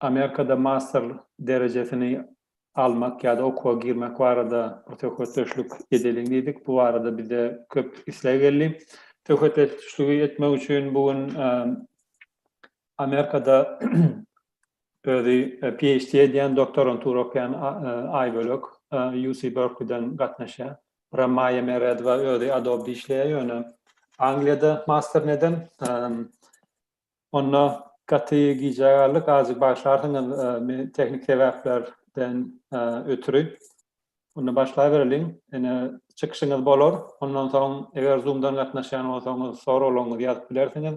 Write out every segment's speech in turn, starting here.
Amerikada master derejesini almak ýa-da okuwa girmek barada bir söhbetdeşlik edeliň diýdik. Bu barada bize köp isleg geldi. Söhbetdeşligi etmek üçin bu gün Amerikada özi PHD edýän, doktorantura okaýan Aýbölek UC Berkeley-den gatnaşýar. Bura Maýa Meredowa özi Adobe-de işleýär, ýöne Angliýada masterini eden. Onda gaty gijä galdyk, azajyk bagyşlarsyňyz meni tehniki sebäplerden ötri. Onda başlabereliň. Ene çykyşyňyz bolar. Ondan soň eger Zoom-dan gatnaşýan bolsaňyz soraglaryňyzy ýazyp bilersiňiz.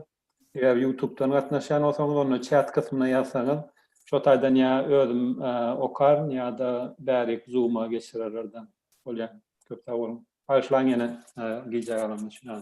Eger YouTube-dan gatnaşýan bolsaňyz onda çat gysmyna ýazsaňyz şo taýdan ýa özüm okaryn ýa-da bärik Zoom-a geçirerlerden bolýar. Köp sag boluň. Bagyşlaň ýene gijä galanymy.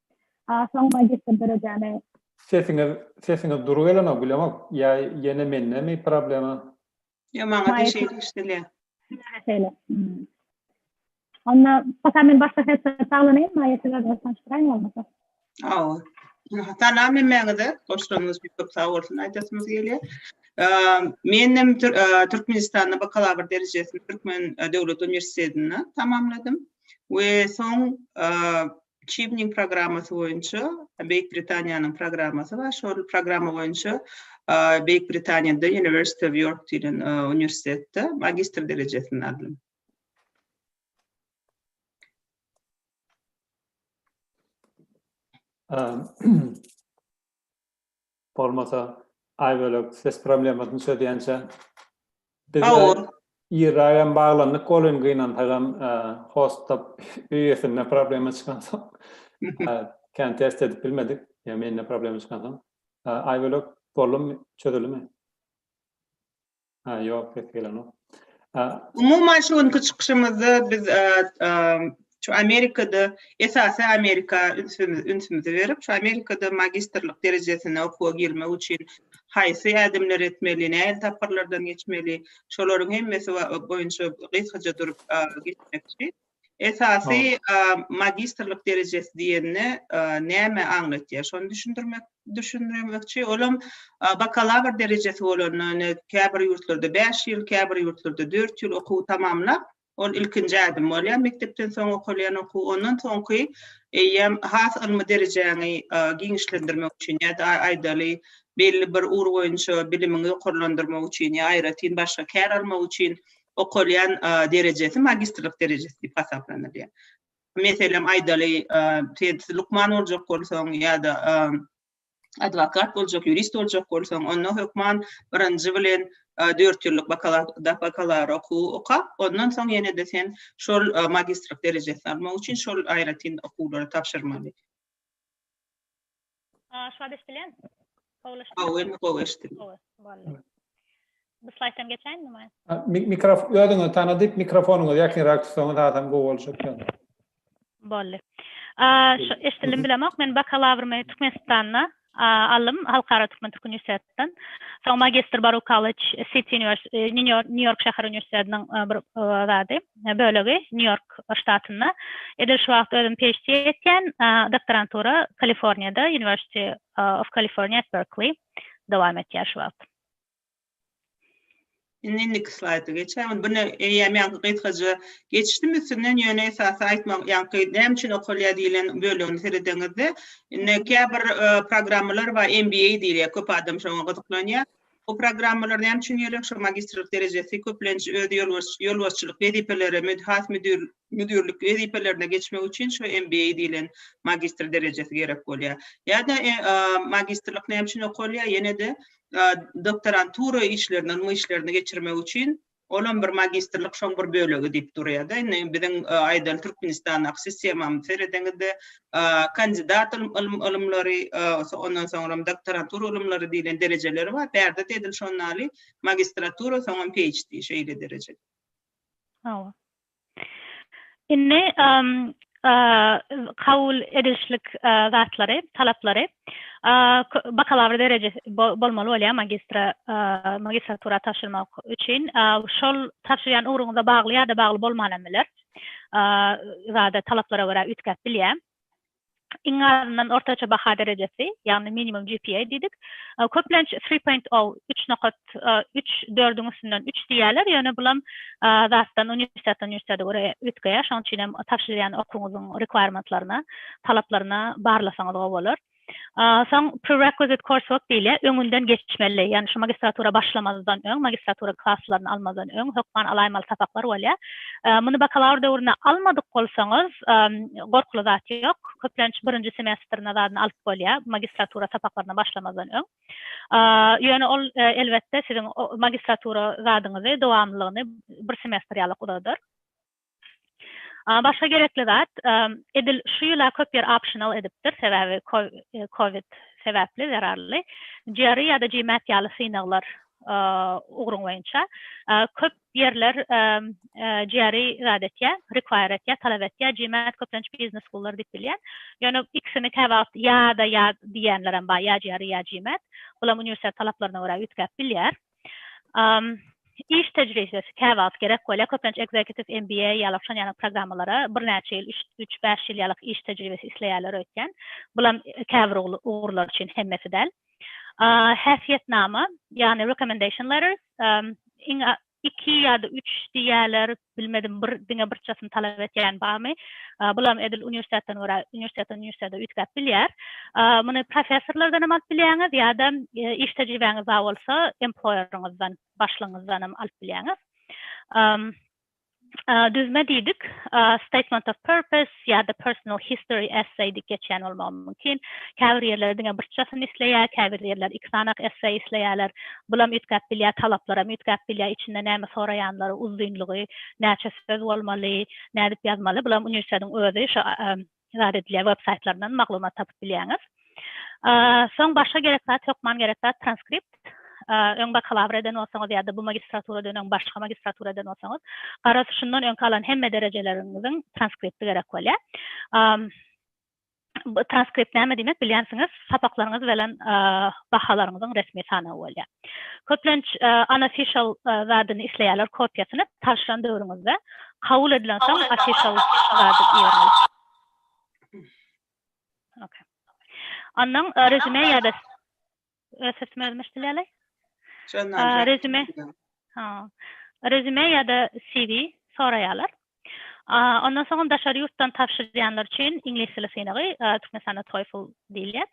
A soň magistr derejäni. Sesiňiz sesiňiz dury gelenok bilemok ýa ýene mendemi problema. Ýok maňa da şeýle eşidilýär. Size-de şeýle. Onda posa men başga sesde saglanyň maýa siz özüňiz tanyşdyraýyň bolmasa. Hawa. Salam hemmäňize. Goşlaryňyz bir köp sag bolsun aýdasymyz gelýär. Men hem Türkmenistanda bakalawr derejesini Türkmen döwlet uniwersitetinde tamamladym we soň Çibniň programmasy boýunça Beýik Britaniýanyň programmasy bar. Şol programma boýunça Beýik Britaniýada University of York diýlen uniwersitetde magistr derejesini aldym. Bolmasa Aýbölek ses problemasyny çözýänçä Hawa. Irraýam baglandyk welin gynansagam hostda öýesinde problema çykansoň kän test edip bilmedik. Ýa mende problema çykansoň. Aýbölek boldumy, çözüldimi? Ha ýok ses gelenok. Umuman şu günki çykyşymyzda biz şu Amerikada esasy Amerika ünsümizi berip şu Amerikada magistrlik derejesine okuwa girmek üçin haýsy ädimleri etmeli, nähili tapgyrlardan geçmeli, şolaryň hemmesi boýunça gysgaça durup geçmekçi. Esasy magistrlik derejesi diýende näme aňlatýar? Şony düşündirmek düşündirmekçi. Olam bakalawr derejesi bolan, käbir ýurtlarda bäş ýyl, käbir ýurtlarda dört ýyl okuwy tamamlap, ol ilkinji ädim bolýar, mekdepden soň okalýan okuw. Ondan soňky eýýäm has ylmy derejäňi giňişlendirmek üçin ýa-da aýdaly belli bir ugur boýunça bilimiňi ýokarlandyrmak üçin ýa aýratyn başga kär almak üçin okalýan derejesi magistrlik derejesi diýip hasaplanylýar. Meselem aýdaly, siz lukman boljak bolsaň ýa-da adwokat boljak, ýurist boljak bolsaň, onda hökman birinji bilen dört ýyllyk bakalawr okuwy oka, ondan soň ýene-de sen şol magistrlik derejesini almak üçin şol aýratyn okuwlary tabşyrmaly. Aşgaz eşdilen? Gowlaşdy. Gowy, indi gowy eşdildi. Gowy, boldy. Bu slaýddan geçäýinmi maýa? Ha, mi- Mikrofon özüňizi tanadyp mikrofonyňyzy ýakynrak tutsaňyz hasam gowy boljak ýaly. Boldy. A, şu eşdildim bilemok. Men bakalawrymy Türkmenistanda a, aldym, Halkara Türkmen Türk Uniwersitet uniwersitetden. Soň magistr Baruch College, City University, Nýu Ýork şäher uniwersitetiniň bir zady, bölegi, Nýu Ýork ştatynda. Edil şu wagt özüm PHD etýän, doktorantura Kaliforniýada, University of California at Berkeley dowam etýär şu wagt. Indi indiki slaýda geçäýin. Bune eýýäm ýaňky gysgaja geçdim üstünden, ýöne esasy aýtmak, ýaňky näme üçin okalýar diýlen bölegini seredeňizde, indi käbir e, programmalar bar, MBA diýilýär, köp adam şoňa gyzyklanýar. Bu programmalar näme üçin gerek? Şu magistrlik derejesi köplenç öz ýolbaşçylyk wezipeleri, has müdir müdirlik wezipelerine geçmek üçin şu MBA diýilen magistr derejesi gerek bolýar. Ýa-da e, magistrlik näme üçin okalýar? Ýene-de doktorantura işlerinden mu işlerini geçirmek üçin olam bir magistrlik şoň bir bölegi diýip durýada indi biziň aýdan türkmenistandaky sistemamyzy seredeňizde kandidat ylym ylymlary ondan soňram doktorantura ylymlary diýlen derejeleri bar bärde de edil şonnaly magistratura soňam phd şeýle dereje hawa Indi kabul edilişlik zatlary, talaplary, bakalawr derejesi bolmaly bolýar magistra, magistratura tabşyrmak üçin. Şol tabşyrýan ugruňyza bagly ýa-da bagly bolman hem biler. Zada talaplara görä üýtgäp bilýär. iň azyndan ortaça baha derejesi, ýagny minimum GPA diýdik. Köplenç three point o, üç nokat, üç, dördüň üstünden üç diýýärler, ýöne bulam zatdan uniwersitetden uniwersitete görä üýtgeýär, şonuň üçin hem tabşyrýan okuwyňyzyň rekwirementlerine, talaplaryna barlasaňyz gowy bolar. Soň prerequisite coursework diýilýär, öňünden geçmeli, ýagny şu magistratura başlamazdan öň, magistratura klaslaryny almazdan öň hökman alaýmaly sapaklar bolýar. Muny bakalawr döwrüne almadyk bolsaňyz, gorkuly zat ýok. Köplenç birinji semestr nazaryna alyp bolýar, magistratura sapaklaryna başlamazdan öň. Ýöne ol, elbetde, siziň magistratura zadyňyzy, dowamlylygyny bir semestr ýalyk uzadar. Başga gerekli zat, edil şu ýyl-a köp ýer optional edipdir, sebäbi covid sebäpli, zerarly. GRE ýa-da GMAT ýaly synaglar ugruň boýunça köp Ýerler GRE zat etýär, require etýär, talap etýär, GMAT köplenç biznes schoollar diýip bilýän. Ýöne ikisini käwagt ýa-da ýa diýýänlerem bar, ýa GRE ýa GMAT. Bulam uniwersitet talaplaryna görä üýtgäp bilýär. Iş tejribesi käwagt gerek bolýar, köplenç executive MBA ýaly şon ýaly programmalara birnäçe ýyl, üç-bäş ýyl ýalyk iş tejribesi isleýärler öýtýän. Bulam käbir ugurlar üçin, hemmesi däl. häsiýetnama, ýagny recommendation letters, iň az iki ýa-da üç diýýärler, bilmedim bir diňe birçasyny talap etýän barmy? Bulam edil uniwersitetden görä, uniwersitetden uniwersitete üýtgäp bilýär. Muny professorlardan hem alyp bilýäňiz ýa-da iş tejribäňiz bar bolsa emploýeriňizden, başlygyňyzdan hem alyp bilýäňiz. Düzme diýdik, statement of purpose ýa-da personal history essay diýip geçýän bolmagy mümkin. Käbir ýerler diňe birçjasyny isleýär, käbir ýerler iki sanak essay isleýärler. Bulam üýtgäp bilýär, talaplaram üýtgäp bilýär, içinde näme soraýanlary, uzynlygy, näçe söz bolmaly, nädip ýazmaly, bulam uniwersitetiň özi, şo zat edilýär web saýtlaryndan maglumat tapyp bilýäňiz soň başga gerek zat hökman gerek zat transkript öň bakalawr eden bolsaňyz ýa-da bu magistraturadan öň başga magistratura eden bolsaňyz garaz şundan öňki alan hemme derejeleriňiziň transkripti gerek bolýar transkript näme diýmek bilýänsiňiz sapaklaryňyz bilen bahalaryňyzyň resmi sanawy bolýar Köplenç unofficial zadyny isleýärler kopiýasyny taşlan döwrüňizde kabul edilen soň official zady ibermeli. Ok. Ondan resume ýa da öz sesimi özüm eşdilýäleý. Resume. Ha. Resume ýa da CV soraýarlar. Ondan soň daşary ýurtdan tabşyrýanlar üçin iňlis dili synagy, Türkmenistanda TOEFL diýilýär.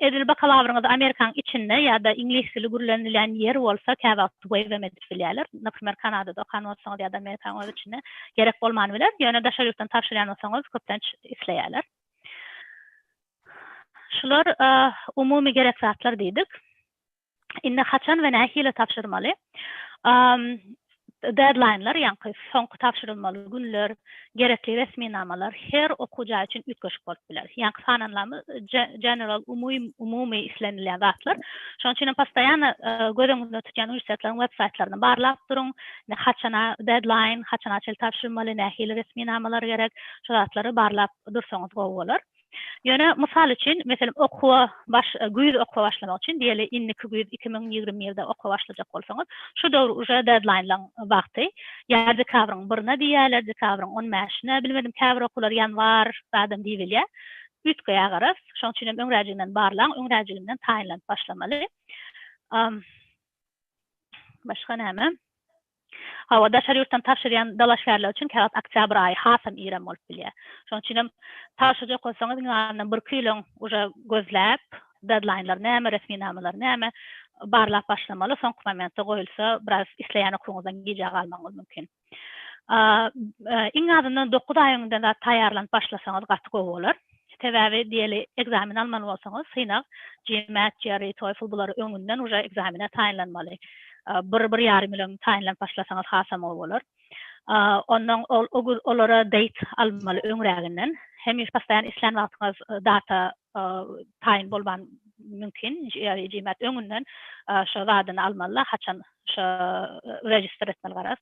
Edil bakalawryňyzy Amerikanyň içinde ýa-da iňlis dili gürlenilýän ýer bolsa käwagt waive hem edip bilýärler. Naprimer Kanadada okan bolsaňyz ýa-da Amerikanyň öz içinde gerek bolman biler. Ýöne daşary ýurtdan tabşyrýan bolsaňyz köplenç isleýärler. Şular umumy gerek zatlar diýdik. Indi haçan we nähili tabşyrmaly? Deadline-lar, ýaňky soňky tabşyrylmaly günler, gerekli resminamalar her okuw jaý üçin üýtgeşik bolup biler. Ýaňky sananylamy general, umumy islenilýän zatlar. Şonuň üçin hem postoýanno göz öňünde tutýan uniwersitetlaryň websaýtlaryny barlap duruň. Indi haçana deadline, haçana çenli tabşyrylmaly, nähili resminamalar gerek, şu zatlary barlap dursaňyz gowy bolar. Ýöne, mysal üçin, meselem, okuwa baş, güýz okuwa başlamak üçin, diýeli, indiki güýz iki müň ýigrimi ýylda okuwa başlajak bolsaňyz, şu döwür uje dedlaýnlaň wagty, ýa dekabryň birine diýýärler, dekabryň on bäşine, bilmedim, käbir okuwlar ýanwar zadam diýbilýär, üýtgeýär agaras. Şonuň üçinem öňräjiginden barlaň, öňräjiginden taýynlanyp başlamaly. Başga näme? Hawa, daşary ýurtdan tabşyrýan dalaşgärler üçin käwagt oktýabr aýy hasam irem bolup bilýär. Şonuň üçinem tabşyrjak bolsaňyz iň azyndan bir-iki ýyl öň uje gözläp, dedlaýnlar näme, resminamalar näme, barlap başlamaly, soňky momentde goýulsa biraz isleýän okuwyňyzdan gijä galmagyňyz mümkin. Iň azyndan dokuz aý öňünden zat taýýarlanyp başlasaňyz gaty gowy bolar. Sebäbi diýeli ekzamen almaly bolsaňyz synag GMAT, GRE, TOEFL bulary öňünden uje ekzamene taýynlanmaly. Bir, bir ýarym ýyl öň taýynlanyp başlasaňyz hasam gowy bolar. Onnoň ol olara date almaly öňräginden. Hemişe postaýan islän wagtyňyz data taýyn bolman mümkin. GRE, GMAT öňünden şo zadyny almaly-da haçan şo register etmeli garaz.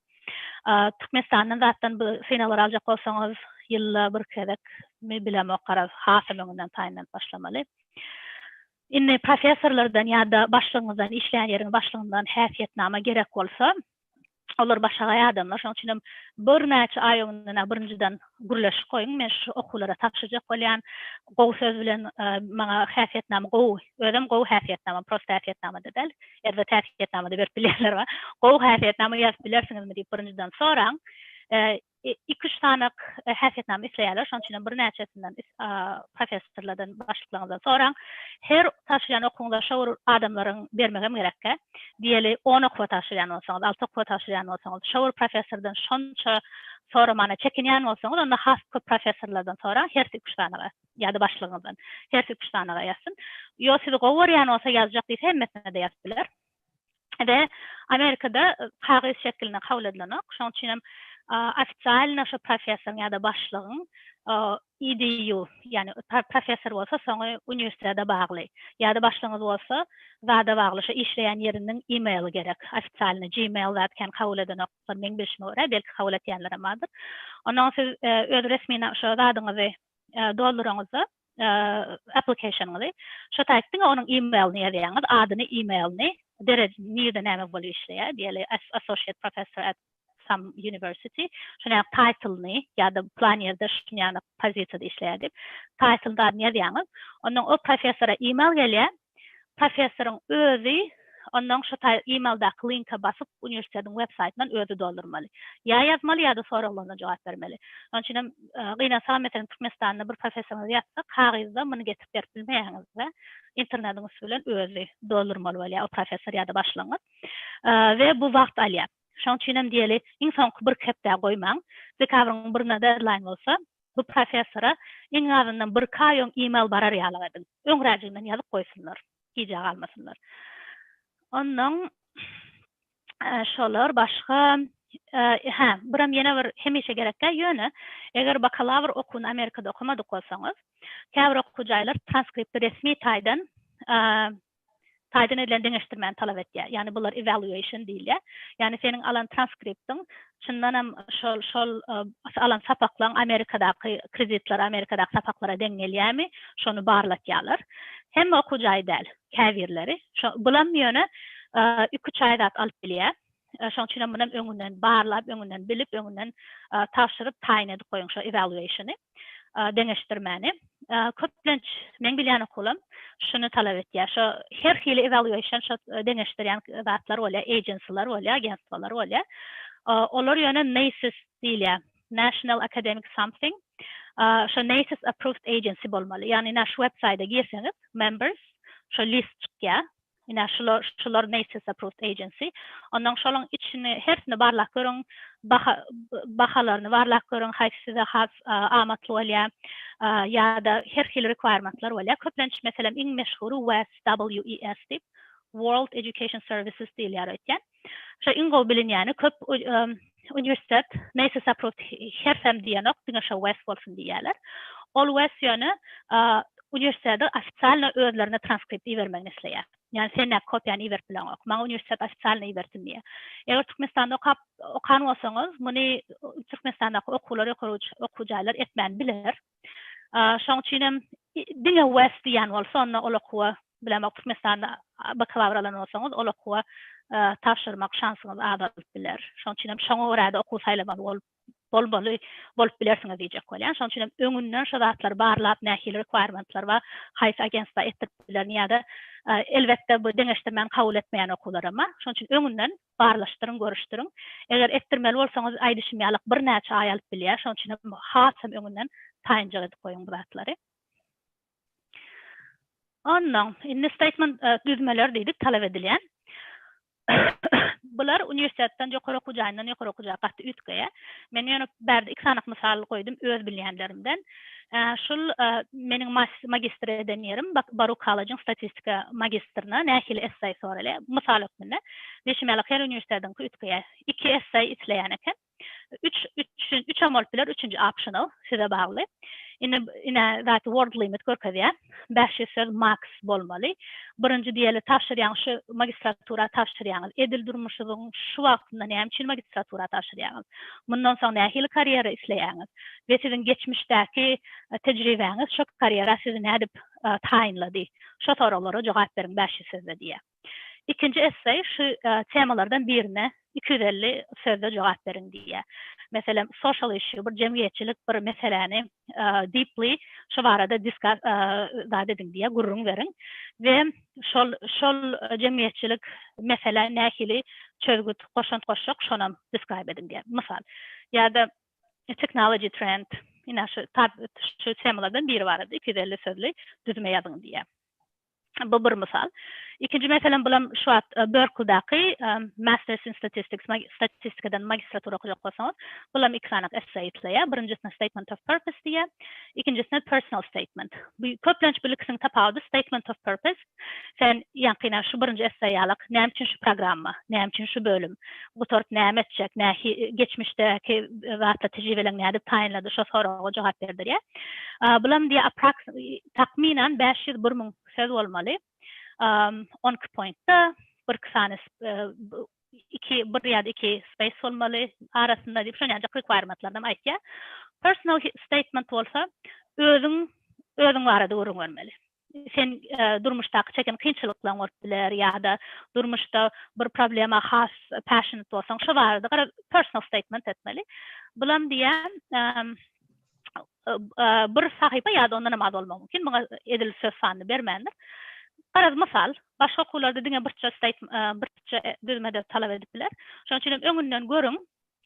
Türkmenistandan zatdan bu synaglar aljak bolsaňyz ýylda bir gezek mi bilemok garaz hasam öňünden taýynlanyp başlamaly. Indi professorlardan ýa-da başlygyňyzdan işleýän ýeriň başlygyndan häsiýetnama gerek bolsa olar başagaý adamlar şonuň üçinem birnäçe aý öňünden birinjiden gürleşip goýuň men şu okuwlara tabşyrjak bolýan gowy söz bilen maňa häsiýetnama gowy özem gowy häsiýetnama prosta häsiýetnamada däl erzet häsiýetnama-da berip bilýänler bar. Gowy häsiýetnama ýazyp bilersiňizmi diýip birinjiden soraň. Iki-üç sanak häsiýetnama isleýärler, şonuň üçinem birnäçesinden professorlardan, başlyklaryňyzdan soraň. Her tabşyrýan okuwyňyza şo bir adamlaryň bermegem gerekkä. Diýeli, on okuwa tabşyrýan bolsaňyz, alty okuwa tabşyrýan bolsaňyz, şo bir professordan şonça soramana çekinýän bolsaňyz, onda has köp professorlardan soraň, hersi iki-üç sanaga. ýa-da başlygyňyzdan. Hersi üç sanaga ýazsyn. Ýo sizi gowy görýän bolsa ýazjak diýse hemmesine-de ýazyp biler. We Amerikada kagyz şekilinde kabul edilenok. Şoň üçin hem ofisialno şo professoryň ýa-da başlygyň EDU, ýagny professor bolsa soňy uniwersitete bagly ýa-da başlygyňyz bolsa zada bagly şo işleýän ýeriniň emaily gerek. Ofisialno gmail zat kän kabul edenoklar meň bilşime görä, belki kabul etýänlerem bardyr. Ondan siz öz resmina şo zadyňyzy dolduraňyzda application-yňyzy şo taýt diňe onuň email-ni ýazýaňyz adyny email-ni derejini nirde näme bolup işleýär diýeli associate professor at some university şonuň ýaly title-ny ýa-da plan ýerde şunuň ýaly pozisiýada işleýär diýip title-ny adyny ýazýaňyz ondan o professora email gelýär Professoryň özi ondan şu taýy e-maildaky linke basyp uniwersitetiň web saýtyndan özi doldurmaly. Ýa ýazmaly ýa-da soraglaryna jogap bermeli. Şonuň üçin hem gynansaňam meselem Türkmenistanda bir professoryňyzy ýazsa kagyzda muny getirip berip bilmeýäňiz we internetiň üsti bilen özi doldurmaly bolýar o professor ýa-da başlygyňyz we bu wagt alýar. Şonuň üçin hem diýeli iň soňky birki hepdä goýmaň. Dekabryň birinde deadline bolsa Bu professora iň azyndan birki aý öň e-mail barar ýalyk ediň. Öňräjignden ýazyp goýsunlar. Gijä galmasynlar. Onnoň şolar başga hä, biram ýene bir hemişe gerek däl, ýöne eger bakalawr okuwyny Amerikada okamadyk bolsaňyz, käbir okuw jaýlar transkripti resmi taýdan taýdan edilen deňeşdirmäni talap etýär. Ýagny bular evaluation diýilýär. Ýagny seniň alan transkriptiň çyndan hem şol şol alan sapaklaň Amerikadaky kreditler Amerikadaky sapaklara deň gelýärmi şony barlatýarlar. Hemme okuw jaýy däl, käbirleri. Şo bulam ýöne iki-üç aý zat alyp bilýär. Şoň üçin hem muny öňünden barlap, öňünden bilip, öňünden tabşyryp, taýyn edip goýuň şo evaluation-y, deňeşdirmäni. Köplenç, meň bilýän okuwlam şuny talap etýär. Şo her hili evaluation şo deňeşdirýän zatlar bolýar, agency-lar bolýar, agentstwalar bolýar. Olar ýöne NACE diýilýär, National Academic Something. Şo NACE approved agency bolmaly. Ýagny, naş websaýta girseňiz, members, şo list çykýar. Ine şular şular Macy's Approved Agency. Onnoň şolaň içini hersini barlap görüň. Baha bahalaryny barlap görüň haýsy size has amatly bolýa. Ýa-da her hili requirement-lar bolýa. Köplenç meselem iň meşhury WES, W-E-S diýip, World Education Services diýilýär öýtýän. Şo iň gowy bilinýäni köp uniwersitet Mesa Saprut hersem diýenok diňe şo Wes bolsun diýýäler. Ol Wes ýöne uniwersitede ofitsialno özlerine transkript ibermegini isleýär. Ýani sen näk kopiýany iberip bileňok. Maňa uniwersitet ofitsialno ibersin diýýär. Eger Türkmenistanda okap okan bolsaňyz muny Türkmenistandaky okuwlar ýokary okuw jaýlar etmän biler. Şoň üçin hem diňe west diýen bolsa onda ol okuwa bilemok Türkmenistanda bakalawr alan bolsaňyz ol okuwa tabşyrmak şansyňyz azalyp biler. Şoň üçin hem şoňa görä-de okuw saýlamaly bolup bolmaly bolup bilersiňiz diýjek bolýan. Şoň üçin hem öňünden şu zatlary barlap nähili requirement-lar bar, haýsy agentstwa etdirip bilerin ýa-da elbetde bu deňeşdirmän kabul etmeýän okuwlar hem bar. Şoň üçin öňünden Barlaşdyryň, görüşdiriň. Eger etdirmeli bolsaňyz, aýdyşym ýalyk birnäçe aý alyp bilýär. Şonuň üçin hem hasam öňünden taýynjak edip goýuň bu zatlary. Onnoň, indi statement düzmeleri diýdik, talap edilýän. Bular uniwersitetden, ýokary okuw jaýyndan ýokary okuw jaýa gaty üýtgeýär. Men ýöne bärde iki sany mysal goýdum öz bilýänlerimden. Şul meniň magistr eden ýerim, Baruch College-iň statistika magistrine nähili esseý soraly, mysal hökmünde. Diýşim ýaly, her uniwersitetiňki üýtgeýär. Iki esseý isleýän eken. Üç, üçem bolup biler, üçünji optional, size bagly. Indi, ine, zat word limit görkezýär. Bäşi söz Max bolmaly. Birinji diýeli tabşyrýaň şu magistratura tabşyrýaňyz. Edil durmuşyzyň şu wagtynda näme üçin magistratura tabşyrýaňyz? Mundan soň nähili karýera isleýäňiz? We siziň geçmişdäki tejribäňiz şu karýera sizi nädip taýynlady? Şo soraglara jogap beriň Bäşi sözde diýýär. Ikinji esseý şu temalardan birine iki ýüz elli sözde jogap beriň diýýär. Meselem, social issue, bir jemgyýetçilik bir meseläni deeply şo barada discuss zat ediň diýýär, gürrüň beriň we şol şol jemgyýetçilik meselä nähili çözgüt, goşant goşjak şonam describe ediň diýýär. Mysal. Ýa-da technology trend, ine şu temalardan biri barada iki ýüz elli sözli düzme ýazyň diýýär. Bu bir mysal. Ikinji meselem bulam şu wagt Berkldaky Masters in Statistics, statistikadan magistratura okajak bolsaňyz, bulam iki sany essay isleýär. Birinjisine Statement of Purpose diýýär, ikinjisine Personal Statement. Bu köplenç bu ikisiniň tapawudy Statement of Purpose, sen ýaňkyna şu birinji essay ýalak, näme üçin şu programma, näme üçin şu bölüm, gutaryp näme etjek, nähi geçmişdäki zatlar, tejribeleň nädip taýynlady, şo soraga jogap berdirýär. Bulam diýýär Takmynan bäş ýüz bir müň söz bolmaly. On iki pointda birki sany iki bir ýa-da iki space bolmaly arasynda diýip şon ýanjak requirement-larynam aýtýar. Personal statement bolsa özüň özüň barada gürrüň bermeli. Sen durmuşdaky çeken kynçylyklaň bolup biler ýa-da durmuşda bir problema has passionate bolsaň şo barada gara personal statement etmeli. Bulam diýýär bir sahypa ýa-da ondan hem az bolmagy mümkin, muňa edil söz sanyny bermändir. Garaz, mysal, başga okuwlarda diňe birçe statement, birçe düzme-de talap edip biler. Şonuň üçin hem öňünden görüň,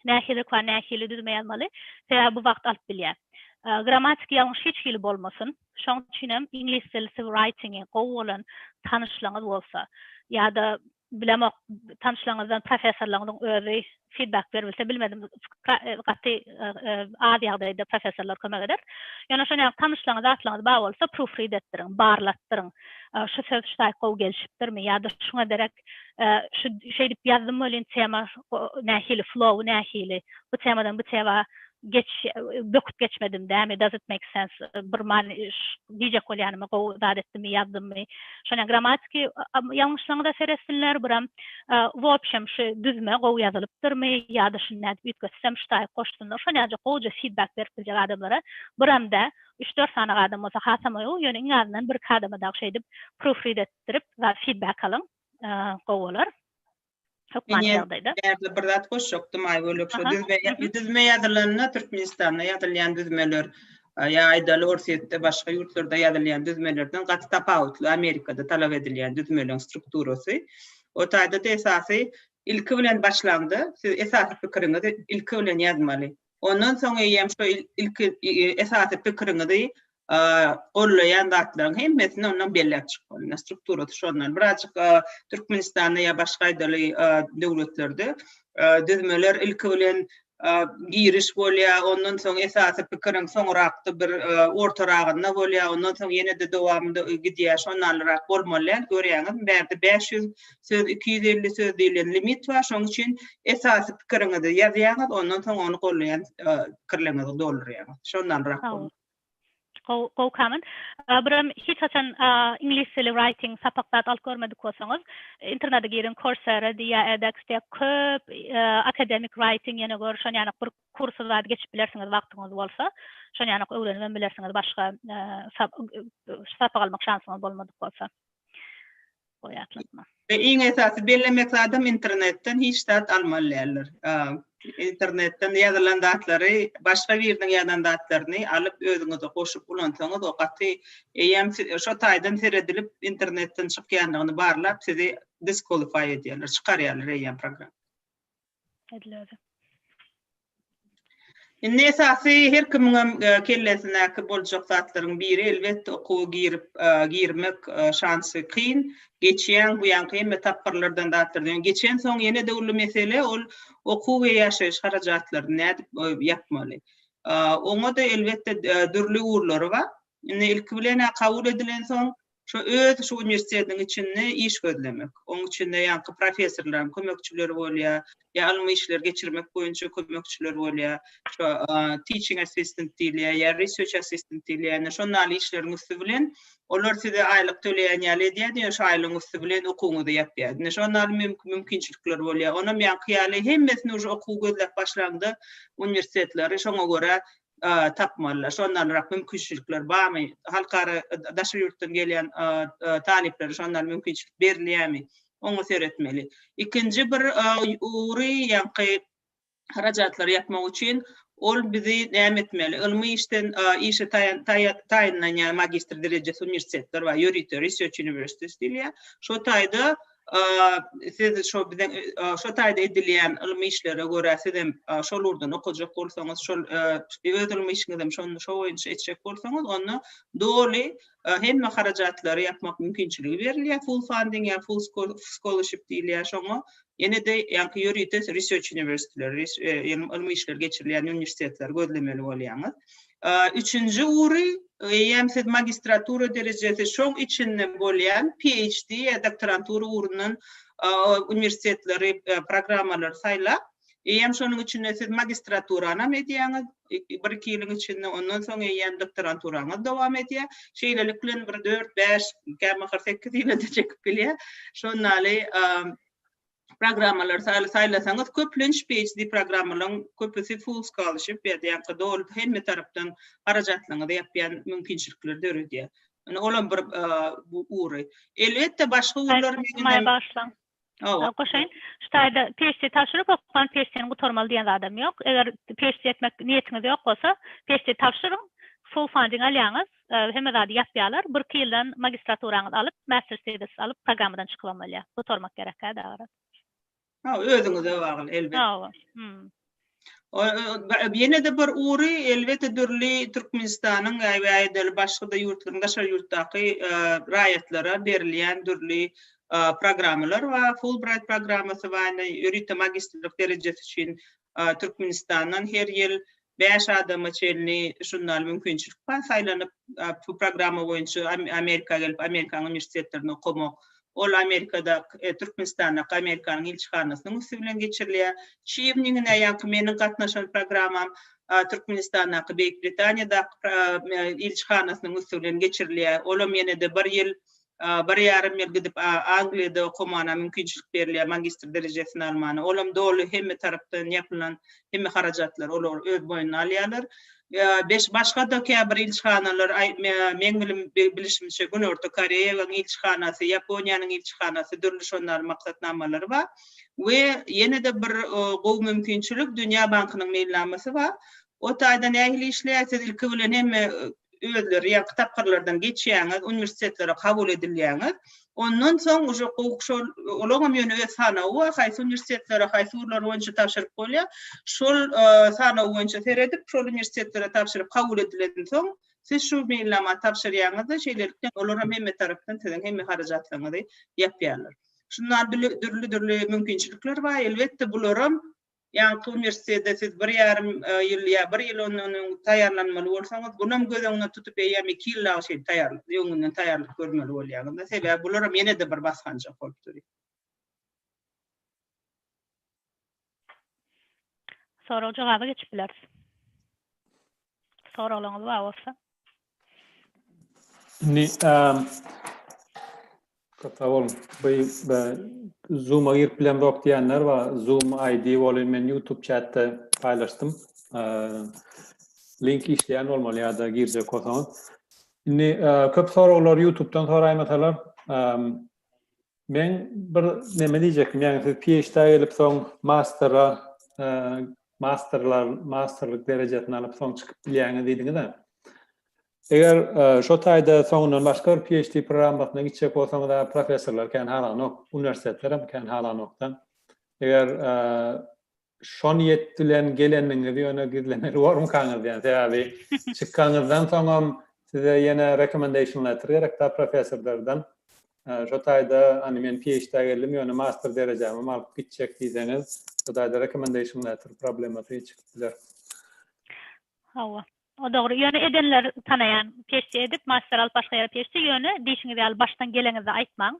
nähilirik we nähili düzme ýazmaly, sebäbi bu wagt alyp bilýär. Grammatiki ýalňyş hiç hili bolmasyn. Şonuň üçin hem iňlis dilisi writing-i gowy bolan tanyşlygyňyz bolsa ýa-da Bilemok tanyşlaryňyzdan professorlaryňyzyň özi feedback beribilse bilmedim gaty az ýagdaýda professorlar kömek eder. Ýöne şonuň ýaly tanyşlaryňyz zatlaryňyz bar bolsa proofread etdiriň, barlatdyryň. Şu söz şu taýy gowy gelişipdirmi ýa-da şuňa derek şu şeýdip ýazdym welin tema nähili flow nähili bu temadan bu tema geçiş böküp geçmedim dämi does it make sense bir many diýjek bolýanymy gowy zat etdimmi ýazdymmy şonýa gramatiki ýalňyşlygyňyza seretsinler buram wobşem şu düzme gowy ýazylypdyrmy ýada şuny nädip üýtgetsem şu taýy goşsunlar şonýajyk gowja fidbak berip biljek adamlara buram dä üç dört sany adam bolsa hasam oýu ýöne iň azyndan birki adama dagy şeýdip prufrid etdirip fidbak alyň gowy bolar. Hökman ýagdaýda. Ýerde bir zat goşjakdym aý bölek şu düzme düzme ýazylanda Türkmenistanda ýazylýan düzmeler ýa aýdaly Orsýetde başga ýurtlarda ýazylýan düzmelerden gaty tapawutly Amerikada talap edilýän düzmeleň strukturasy. O taýda-da esasy ilki bilen başlaňda siz esasy pikiriňizi ilki bilen ýazmaly. Ondan soň eýýäm şu ilki esasy pikiriňizi gollaýan zatlaryň hemmesini ondan belläp çykmaly. Strukturasy şondan. Birazjyk Türkmenistanda ýa başga aýdaly döwletlerde düzmeler ilki bilen giriş bolýar, ondan soň esasy pikiriň soňrakda bir ortaragynda bolýar, ondan soň ýene-de dowamynda gidýär. Şondanrak bolmaly däl, görýäňizmi, bärde bäş ýüz söz iki ýüz elli söz diýlen limit bar şoň üçin esasy pikiriňizi ýazýaňyz ondan soň ony golleýän pikirleriňizi doldurýaňyz şondanrak bolar. Gowy gowy kaman. Biram hiç haçan iňlis dili writing sapak zat alyp görmedik bolsaňyz internete giriň coursera diý ýa edx diý köp akademik writing ýene gör şon ýanak bir kursy zat geçip bilersiňiz wagtyňyz bolsa şon ýanak öwrenip hem bilersiňiz başga sapak almak şansyňyz bolmadyk bolsa. goýatlygyna. We iň esasy bellemek zadym internetden hiç zat almaly däldir. Internetden ýazylan zatlary başga biriniň ýazan zatlaryny alyp özüňize goşup ulansaňyz o gaty eýýäm şo taýdan seredilip internetden çykýandygyny barlap sizi disqualify edýärler, çykarýarlar eýýäm programma. Edilýärdi. Indi esasy her kimiňem e, kellesindäki boljak zatlaryň biri elbetde okuwa girip e, girmek e, şansy kyn. Geçýän bu ýanky hemme tapgyrlardan zatlardan geçen soň ýene de uly mesele ol okuw we ýaşaýyş harajatlaryny nädip e, ýapmaly. E, Oňa da elbetde e, dürli ugurlary bar. Indi ilki bilen kabul edilen soň Şu öz şu uniwersitetiniň içinde iş gözlemek. Oň içinde ýaňky professorlaryň kömekçileri bolýar, ýa ylmy işleri geçirmek boýunça kömekçiler bolýar, şu teaching assistant diýilýär, ýa research assistant diýilýär. Indi şon ýaly işleriň üsti bilen olar size aýlyk töleýän ýaly edýärdi, ýöne şu aýlygyň üsti bilen okuwyňyzy ýapýardy. Indi şon ýaly mümkinçilikler bolýar. Onam ýaňky ýaly hemmesini uje okuw gözläp başlaňda uniwersitetleri şoňa görä tapmalylar. Şondanrak mümkinçilikler barmy? Halkara, daşary ýurtdan gelýän talyplara şondan mümkinçilik berilýärmi? Oňa seretmeli. Ikinji bir ury ýaňky harajatlary ýapmak üçin ol bizi näme etmeli? Ylmy işden işe taýynlanýan magistr derejesi uniwersitetler bar, ýörite research universities diýilýär. Şo taýda siz şo biziň şo taýda edilýän ylmy işlere görä siz hem şol ugurdan okajak bolsaňyz şol öz ylmy işiňizi hem şonda şo boýunça etjek bolsaňyz onda doly hemme harajatlary ýapmak mümkinçiligi berilýär full funding ýa full scholarship diýilýär şoňa ýene-de ýaňky ýörite research uniwersitetleri ýa ylmy işler geçirilýän uniwersitetleri gözlemeli bolýaňyz Üçünji ury, eýýäm siz magistratura derejesi, şoň içinde bolýan PHD ýa doktorantura urundan uniwersitetleri, programmalary saýlap, eýýäm şonuň içinde siz magistraturanam edýäňiz, bir-iki ýylyň içinde, ondan soň eýýäm doktoranturaňyz dowam edýär. Şeýlelik bilen bir dört, bäş, kämaha sekiz ýyla-da çekip bilýär. Şonda-ly programmalary saýla saýlasaňyz köplenç PHD programmalaryň köpüsi full scholarship berýär doly hemme tarapdan harajatlaryňyzy ýapýan mümkinçilikleri döredýär. Ýöne olam bir bu ury. Elbetde başga urlar meňem başlaň. Hawa. Goşaýyn. Şu taýda PHD tabşyryp okan PHD-ni gutarmaly diýen zadam ýok. Eger PHD etmek niýetiňiz ýok bolsa, PHD tabşyryň, full funding alýaňyz. Hemme zady ýapýalar. Birki ýyldan magistraturaňyzy alyp, master thesis alyp programmadan çykybam bolýar. Gutarmak gerek hä dagy raz. Hawa özüňize bagly elbet. Hawa. Hmm. Ýene-de bir ury elbetde dürli Türkmenistanyň ýa-da başga-da ýurtlaryň daşary ýurtdaky raýatlara berilýän dürli programmalar bar. Fulbright programmasy bar, ýörite magistrlik derejesi üçin Türkmenistandan her ýyl bäş adama çenli žurnal mümkinçilik bar saýlanyp bu programma boýunça Amerika gelip Amerikanyň uniwersitetlerinde okamak. Ol Amerikadaky Türkmenistandaky Amerikanyň ilçihanasynyň üsti bilen geçirilýär. Şu ýyl ýaňky meniň gatnaşan programmam Türkmenistandaky Beýik Britaniýadaky ilçihanasynyň üsti bilen geçirilýär. Olam ýene-de bir ýyl Bir ýarym ýyl gidip Angliýada okamana mümkinçilik berilýär magistr derejesini almana. Olam doly hemme tarapdan ýapylan hemme harajatlary olar öz boýnuna alýarlar. Beş başgada käbir ilçihanalar meň bilim bilişimçe Günorta Koreýagyň ilçihanasy Ýaponiýanyň ilçihanasy dürli şonary maksatnamalary bar we ýenede bir gowy mümkinçilik Dünýä bankynyň meýilnamasy bar. O taýda nähili işleýär siz ilki bilen hemme özleri ýaňky tapgyrlardan geçýäňiz, uniwersitetlere kabul edilýäňiz. Ondan soň uje gowy şol olaňam ýöne öz sanawy bar, haýsy uniwersitetlere, haýsy ugurlar boýunça tabşyryp bolýar. Şol sanaw boýunça seredip, şol uniwersitetlere tabşyryp kabul edilen soň, siz şu meýilnamany tabşyrýaňyz-da, şeýlelikde olaram hemme tarapdan siziň hemme harajatlaryňyzy ýapýarlar. Şunda dürli-dürli mümkinçilikler bar. Elbetde bularam Ýaňky uniwersitete siz bir ýarym ýyl ýa bir ýyl ondan öň taýýarlanmaly bolsaňyz, bulam göz öňüne tutup eýýäm iki ýyl dagy şeýdip taýýarlyk, öňünden taýýarlyk görmeli bolýaňyz-da. Sebäbi bularam ýene-de bir basgançak bolup durýar. Sorag-jogaba geçip bileris. Soraglaryňyz bar bolsa. Indi eee Gapawul beý Zoom-a girip bilemzok diýenler bar. Zoom ID bolup men YouTube chatda paýlaşdym. Eee link işleýän bolmaly ýa-da girjek bolsaňyz. Indi eee köp soraglar YouTube-dan soraýmasalar, eee Men bir neme diýjekdim, ýagny siz PhD-a gelip soň mastera, masterlar, masterlyk derejesini alyp soň çykyp bilýäňiz diýdiňiz-ä. Eger şo taýda soňundan başga bir PhD programmasyna gitjek bolsaňyz-a professorlar kän halanok, uniwersitetler hem kän halanok-da. Eger Şo niýet bilen gelendiňizi ýöne gizlemeli bormykaňyz diýen. Sebäbi çykanyňyzdan soňam size ýene recommendation letter gerek-dä professorlardan. Şo taýda hani men PHD-ä geldim ýöne master derejämem alyp gitjek diýseňiz, şo taýda recommendation letter problemasy çykyp biler. Hawa. O dogry. Ýöne edenler tanaýan peşje edip, master alyp başga ýere peşje, ýöne diýşiňiz ýaly başdan geleňizde aýtmaň.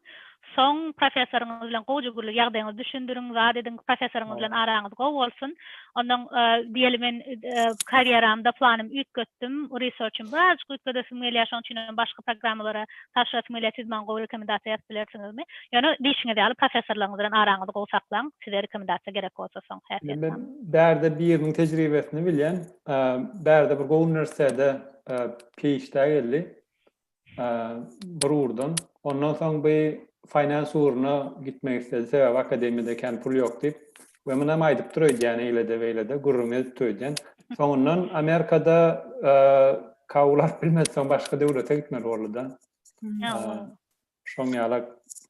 Soň professoryňyz bilen gowja gürlüp ýagdaýyňyzy düşündiriň, zat ediň, professoryňyz bilen araňyz gowy bolsun. Ondan diýeli men karýeramda planym üýtgetdim, researchym birazjyk üýtgedesim gelýär, şonuň üçinem başga programmalara tabşyrasym gelýär, siz maňa gowy rekomendasiýa ýazyp bilersiňizmi? Ýöne diýşiňiz ýaly professorlaryňyz bilen araňyzy gowy saklaň, size rekomendasiýa gerek bolsa soň häsiýetnama. Men bärde biriniň tejribesini bilýän. Bärde bir gowy uniwersitete PHD-ä geldi. Bir ugurdan. Ondan soň bu finans ugruna gitmek istedi. Sebäbi akademiýada kän pul ýok diýip. We muny hem aýdypdyr öýdýän, eýle-de, beýle-de, gürrüň edipdir öýdýän. Soňundan Amerikada kabul alyp bilmedi, soň başga döwlete gitmeli boldy-da. Şoň ýala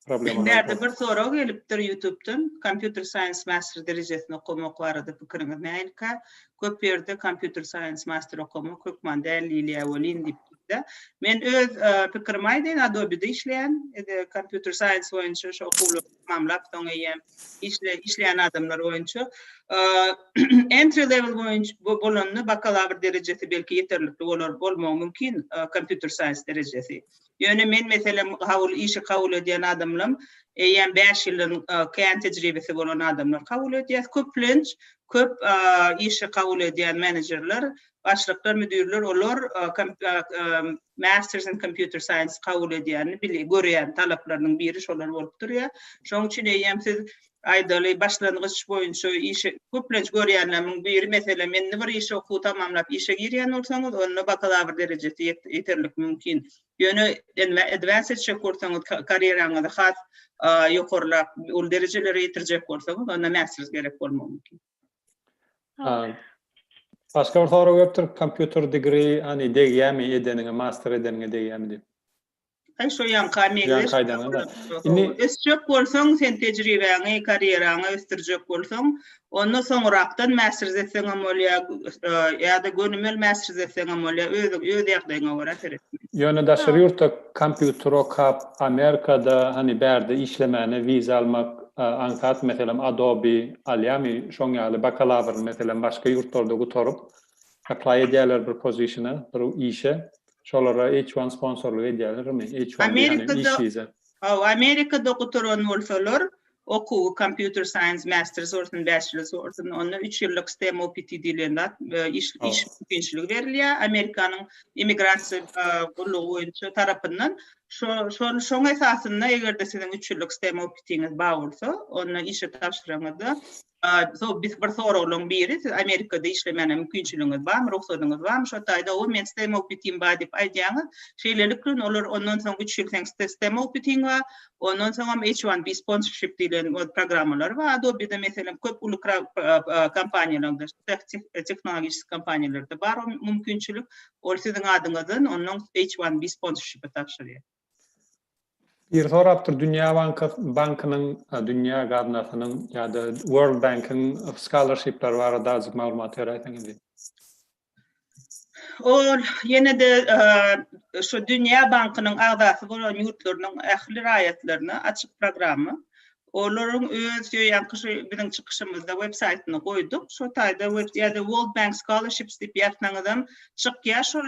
problemalar bor. Bärde bir sorag gelipdir ýutubdan, kompýuter saýens master derejesini okamak barada pikiriňiz nähilika? Köp ýerde kompýuter saýens master okamak hökman däl diýilýär welin diýip de. Men öz pikirimi aýdaýyn, Adobe-de işleýän, ede kompýuter saýens boýunça şo okuwlary tamamlap soň eýýäm işleýän adamlar boýunça entry level boýunça bolanda bakalawr derejesi belki ýeterlikli bolar, bolmagy mümkin kompýuter saýens derejesi. Ýöne men meselem kabul işi kabul edýän adamlam eýýäm bäş ýyldan kän tejribesi bolan adamlar kabul edýäs. Köplenç köp işi kabul edýän menejerler, başlyklar, müdirler olar Masters in Computer Science kabul edýänini görýän talaplarynyň biri şolar bolup durýar. Şonuň üçin eýýäm siz Aýdaly, başlangyç boýunça işe köplenç görýänlerimiň biri, meselem, indi bir işe okuwy tamamlap işe girýän bolsaňyz, onda bakalawr derejesi ýeterlik mümkin. Ýöne advanced etjek bolsaňyz, karýeraňyzy has ýokarlap, uly derejelere ýetirjek bolsaňyz, onda masters gerek bolmagy mümkin. Başga bir sorag gelipdir, computer degree, hany degýärmi edeniňe, master edeniňe degýärmi diýip? Aý şo ýaňka meňzeş. Indi ösjek bolsaň, sen tejribäňi, karýeraňy ösdürjek bolsaň, onda soňrakdan mäsrz etseňem bolýa, ýa-da gönümel mäsrz etseňem bolýa, özüň öz ýagdaýyňa görä seret. Ýöne daşary ýurtda kompýuter okap, Amerikada hany bärde işlemäne wiza almak aňsat, meselem Adobe alýamy, şoň ýaly bakalawryny meselem başga ýurtlarda gutaryp, apply edýärler bir pozisiona, bir işe, Şolara H one sponsorlyk edýärlermi? H one diýýän hem iş wiza. Hawa, Amerikada gutaran bolsalar, okuwy Computer Science Master sortun, Bachelor sortun, onda üç ýyllyk STEM OPT diýlen zat, iş mümkinçiligi berilýär Amerikanyň immigrasiýa gullugy boýunça tarapyndan. Şol şoň esasynda eger-de siziň üç ýyllyk STEM OPT-ňiz bar bolsa, onda işe tabşyraňyzda So biz bir soraglaryň biri, siz Amerikada işlemäne mümkinçiligiňiz barmy, rugsadyňyz barmy? Şo taýda o men STEM oputim bar diýip aýdýaňyz. Şeýlelikde olar ondan soň üç ýyl seň STEM oputiň bar. Ondan soňam H1B sponsorship diýlen öz programmalary bar. Adobe-de meselem köp uly kompaniýalarda, tehnologik kompaniýalarda bar o mümkinçilik. Ol siziň adyňyzdan ondan H1B sponsorship-i tabşyrýar. Biri sorapdyr, Dünýä bankynyň, Dünýä gaznasynyň ýa-da World Bank-iň scholarship-leri barada azajyk maglumat beräýseňiz diýip. Ol ýene-de şu Dünýä bankynyň agzasy bolan ýurtlarynyň ähli raýatlaryna açyk programma. Olaryň öz ýo ýanky şu biziň çykyşymyzda web saýtyna goýduk. Şo taýda web ýa-da World Bank Scholarships diýip ýazsaňyzam çykýar şol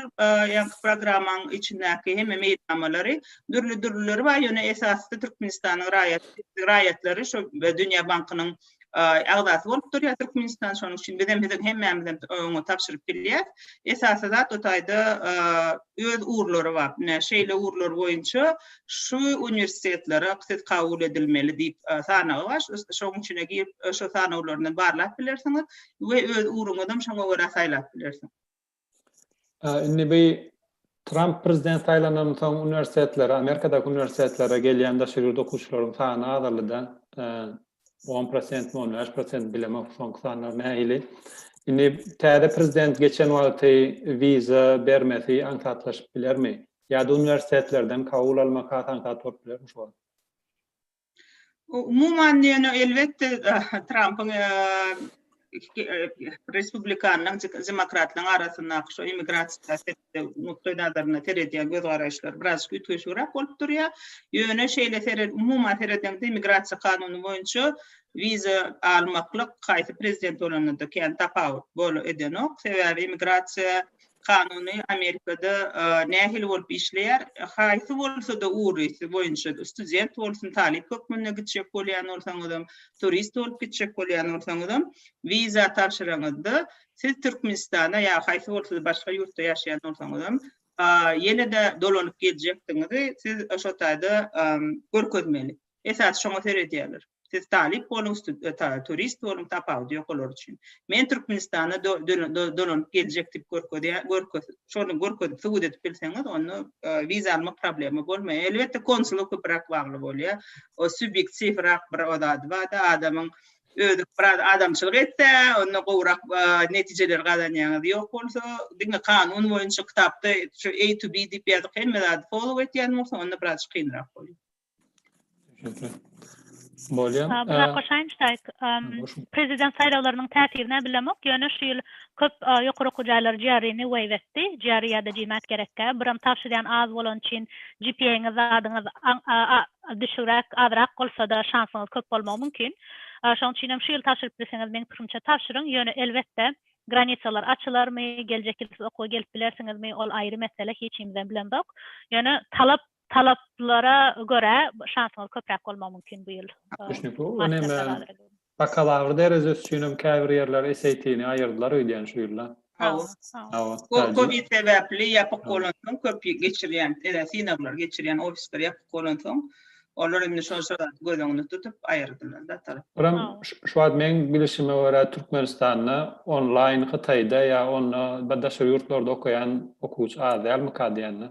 ýanky programmaň içindäki hemme meýilnamalary. Dürli-dürlileri bar, ýöne esasysy Türkmenistanyň raýat raýatlary şo Dünýä bankynyň agzasy bolup durýar Türkmenistan. Şonuň üçin bizem siziň hemmämizem oňa tabşyryp bilýäs. Esasy zat o taýda öz ugurlary bar. Ine şeýle ugurlar boýunça şu uniwersitetlere siz kabul edilmeli diýip sanagy bar. Şoň içine girip, şo sanawlaryndan barlap bilersiňiz we öz ugruňyzam şoňa görä saýlap bilersiňiz. Indi bu Tramp prezident saýlanandan soň uniwersitetlere, Amerikadaky uniwersitetlere gelýän daşary ýurt okuwçylaryň sany azaldy-da. on prosentmi on bäş prosentmi bilemok soňky sanlar nähili indi täze prezident geçen wagty wiza bermesi aňsatlaşyp bilermi ýa-da uniwersitetlerden kabul almak has aňsat bolup bilermi şu wagt umuman diýen elbetde trampyň respublikanlaryň demokratlaryň arasyndaky şu immigrasiýa syýasaty nukdaýnazaryndan seredýän göz-garaýyşlar birazajyk üýtgeşigräk bolup durýar. Ýöne şeýle seren, umuman seredeňde Immigrasiýa kanuny boýunça wiza almaklyk haýsy prezident bolanda-da kän tapawut bol edenok. Sebäbi Immigrasiýa kanuny Amerikada nähili bolup işleýär, haýsy bolsa-da ugrusy boýunça student bolsun, talyp hökmünde gitjek bolýan bolsaňyzam, turist bolup gitjek bolýan bolsaňyzam, wiza tabşyraňyzda Siz Türkmenistana ýa haýsy bolsa-da başga ýurtda ýaşaýan bolsaňyzam, ýene-de dolanyp geljekdigiňizi siz şo taýda görkezmeli. Esasy şoňa seredýärler. Siz talyp boluň, turist boluň, tapawudy ýok olar üçin. Men Türkmenistana dolanyp geljek diýip görkezýär, şony görkezip subut edip bilseňiz, onda wiza almak problema bolmaýar. Elbetde, konsula köpräk bagly bolýar. O subýektiwrak bir o zady bar-da, adamyň Özi biraz adamçylyk etse, onda gowrak netijeleri gazanýaňyz. Ýok bolsa, diňe kanun boýunça kitapda şu A to B diýip ýazyk hemme zady follow etýän bolsa, onda biraz kynrak bolýar. Bolýar. Brakko Şaýnştaýg, Prezident saýlawlarynyň täsirini bilemok, ýöne şu ýyl köp ýokary okuw jaýlary GRE-ni waive etdi. GRE ýa-da GMAT gerekkä. Biram tabşyrýan az bolany üçin GPA-ňyz zadyňyz Düşügräk, azrak bolsa-da şansyňyz köp bolmagy mümkin. Şoň üçin hem şu ýyl tabşyryp bilseňiz, meň pikirimçe tabşyryň. Ýöne, elbetde, granitsalar açylarmy, geljek ýyl siz okuwa gelip bilersiňizmi, ol aýry mesele, hiç kimizem bilemzok. Ýöne, talap, talaplara görä şansyňyz köpräk bolmagy mümkin bu ýyl. Düşnükli. Ony hem Bakalawr derejesi üçinem käbir ýerler SAT-ni aýyrdylar öýdýän şu ýylda. Hawa. Hawa. Ol covid sebäpli ýapyk bolansoň köp geçirýän synaglar geçirýän ofisler ýapyk bolansoň olar indi şol şeraty göz öňünde tutup aýyrdylar datalap. Buram şu wagt meň bilişime görä Türkmenistanda onlaýn Hytaýda ýa onda daşary ýurtlarda okaýan okuwçy az dälmika diýende.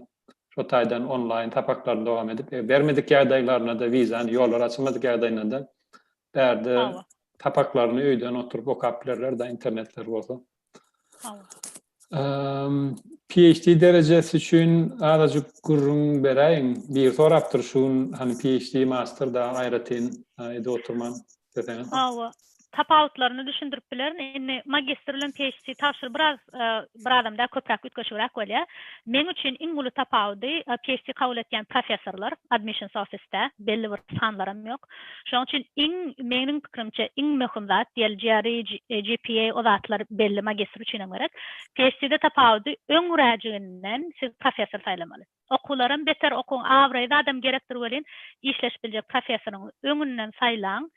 Şo taýdan onlaýn sapaklaryny dowam edip, e, bermedik ýagdaýlarynda-da wizany, ýollary açylmadyk ýagdaýynda-da bärde Hawa. sapaklaryny öýden oturyp okap bilerler-de, internetleri bolsa. Hawa. PhD derejesi üçin azajyk gürrüň beräýiň. Biri sorapdyr şu gün, hany PhD, master da aýratyn edip oturman. Hawa, tapawutlaryny düşündirip bilerin. Indi magistr bilen PHD tabşyr biraz bir adam däl köpräk üýtgeşigräk bolýar. Meň üçin iň uly tapawudy PHD kabul etýän professorlar admissions office-de belli bir sanlaram ýok. Şoň üçin iň meniň pikirimçe iň möhüm zat diýeli GRE, GPA o zatlar belli magistr üçinem gerek. PHD-de tapawudy öňräjiginden siz professor saýlamaly. Okuwlaram beter okuň abraýly adam gerekdir welin işleşip biljek professoryňy öňünden saýlaň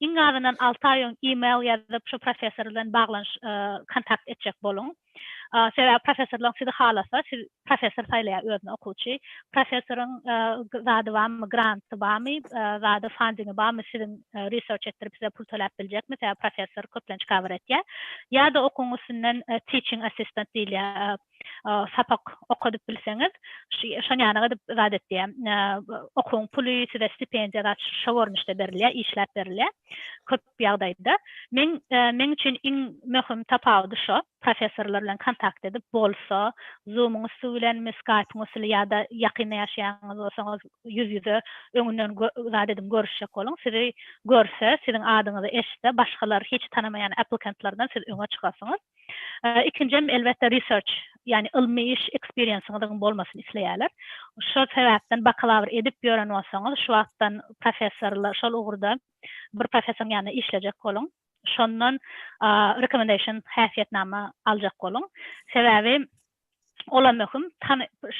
iň azyndan alty aý öň email ýazyp şu professor bilen baglanyş kontakt etjek boluň sebäbi professorlaň sizi halasa siz professor saýlaýar özüne okuwçy professoryň zady barmy granty barmy zady fandiňi barmy siziň research etdirip size pul töläp biljekmi sebäbi professor köplenç cover etýär ýada okuň üstünden teaching assistant diýilýär sapak okadyp bilseňiz şon ýaly edip zat etýär okuň puly size stipendiýa zat şo görnüşde berilýär işläp berilýär köp ýagdaýda men meň üçin iň möhüm tapawudy şo professorlar bilen kontakt edip bolsa zumuň üsti bilenmi skaýpyň üsti bilen ýa-da ýakynda ýaşaýanyňyz bolsaňyz ýüz ýüze öňünden zat ediň görüşjek boluň sizi görse siziň adyňyzy eşitse başgalar hiç tanamaýan applikantlardan siz öňe çykarsyňyz. Ikinjem elbetde research, ýagny ylmy iş eksperiensiňiziň bolmasyny isleýärler. Şol sebäpden bakalawr edip ýören bolsaňyz, şu wagtdan professorla şol ugurda bir professoryň ýanynda işlejek boluň. Şondan recommendation, häsiýetnama, aljak boluň. Sebäbi ola möhüm,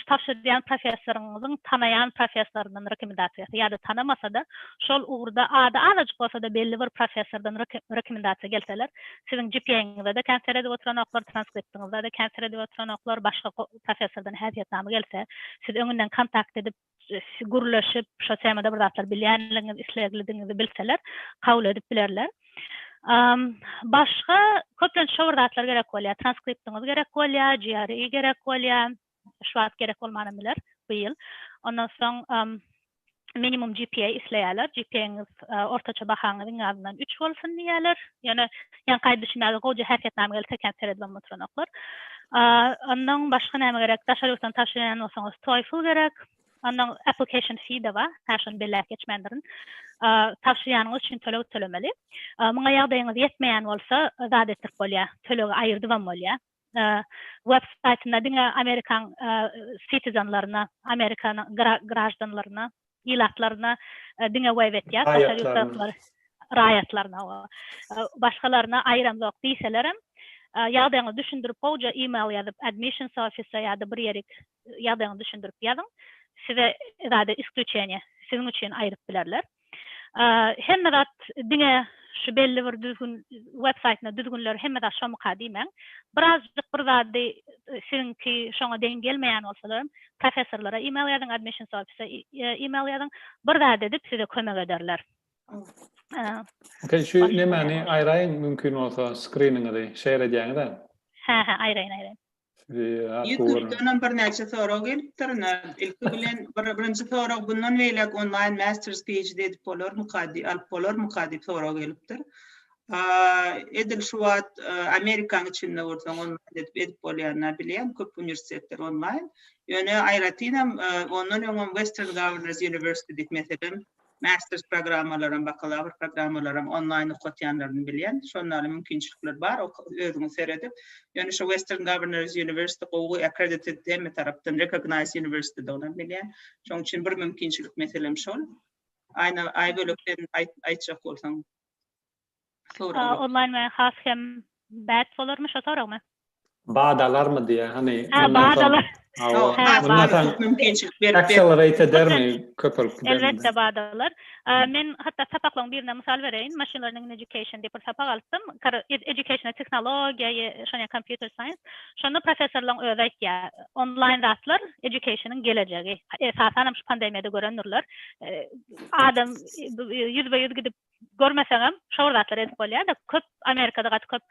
tabşyrýan professoryňyzyň tanaýan professoryndan rekomendasiýasy ýa-da tanamasa-da, şol ugurda ady azajyk bolsa-da belli bir professordan rekomendasiýa gelseler, siziň GPA-ňyza-da kän seredip oturanoklar, transkriptiňize-de kän seredip oturanoklar, başga professordan häsiýetnama gelse, siz öňünden kontakt edip, gürleşip, şo temada bir zatlar bilýänligiňizi, isleglidigiňizi bilseler, kabul edip bilerler. Başga köplenç şo bir zatlar gerek bolýar, transkriptiňiz gerek bolýar, GRE gerek bolýar, şu wagt gerek bolmanam biler bu ýyl. Ondan soň minimum GPA isleýärler, GPA-ňyz ortaça bahaňyz iň azyndan üç bolsun diýýärler. Ýöne ýaňkaýy düşünmäge goja häsiýetnama geldi sökäp seredip hem oturanoklar. Ondan başga näme gerek? Daşary ýurtdan tabşyrylan bolsaňyz TOEFL gerek. Ondan application fee de bar. Hä şony belläp geçmändirin. Tabşyrýanyňyz üçin töleg tölemeli. Muňa ýagdaýyňyz ýetmeýän bolsa zat etdirip bolýar. Tölegi aýyrdyp hem bolýar. web saýtyna diňe Amerikan sitizenlerine, Amerikan graždanlaryna, ilatlaryna diňe web etýär, daşary ýurtdakylar raýatlaryna we başgalaryna aýramzok diýselerem, ýagdaýyňyzy düşündirip gowja email ýazyp admissions office ýa-da bir ýerik ýagdaýyňyzy düşündirip ýazyň. Size zada isklýuçeniýe siziň üçin aýryp bilerler. Hemme zat diňe şu belli bir düzgün web saýtyna düzgünler hemme zat şomyka diýmäň. Birazjyk bir zady siziňki şoňa deň gelmeýän bolsalar professorlara email ýazyň admissions office email ýazyň bir zat edip size kömek ederler. Şu nemäni aýraýyň mümkin bolsa skriningizi şeýer edýäňiz-ä. Hä hä aýraýyn aýraýyn. Ýutubdanam birnäçe sorag gelipdir. Ilki bilen bir birinji sorag bundan beýläk onlaýn masters PhD edip bolarmyka diýip, alyp bolarmyka diýip sorag gelipdir. Edil şu wagt Amerikanyň içinde bolsaň onlaýn edip edip bolýanyny bilýän köp uniwersitetler onlaýn. Ýöne aýratynam ondan öňem Western Governors University diýip meselem Masters programmalaram, bakalawr programmalaram onlaýn okatýanlaryny bilýän. Şonda mümkinçilikler bar, özüňiz seredip. Ýöne şu Western Governors University gowy accredited hemme tarapdan recognized university dolan bilýän. Şoň üçin bir mümkinçilik meselem şol. Aýna aý bölekden aýtjak bolsaň. Sorag yok. Online we has hem bad bolarmy şo soragmy? Bad alarmy diýýär. Hany Ha, bad alar. Hawa. Mundan soň mümkinçilik berip accelerate edermi? Köpelip gidermi? Elbetde bad alar. Men hatda sapaklaryň birine mysal bereýin. Machine learning in education diýip bir sapak alypdym. Educationa tehnologiýa ýa şonýa computer science. Şonda professorlaryň özi aýtýar. Online zatlar educationyň gelejegi. Esasanam şu pandemiýada görendirler. Adam ýüzbe-ýüz gidip görmeseňem şo bir zatlar edip bolýada köp amerikada gaty köp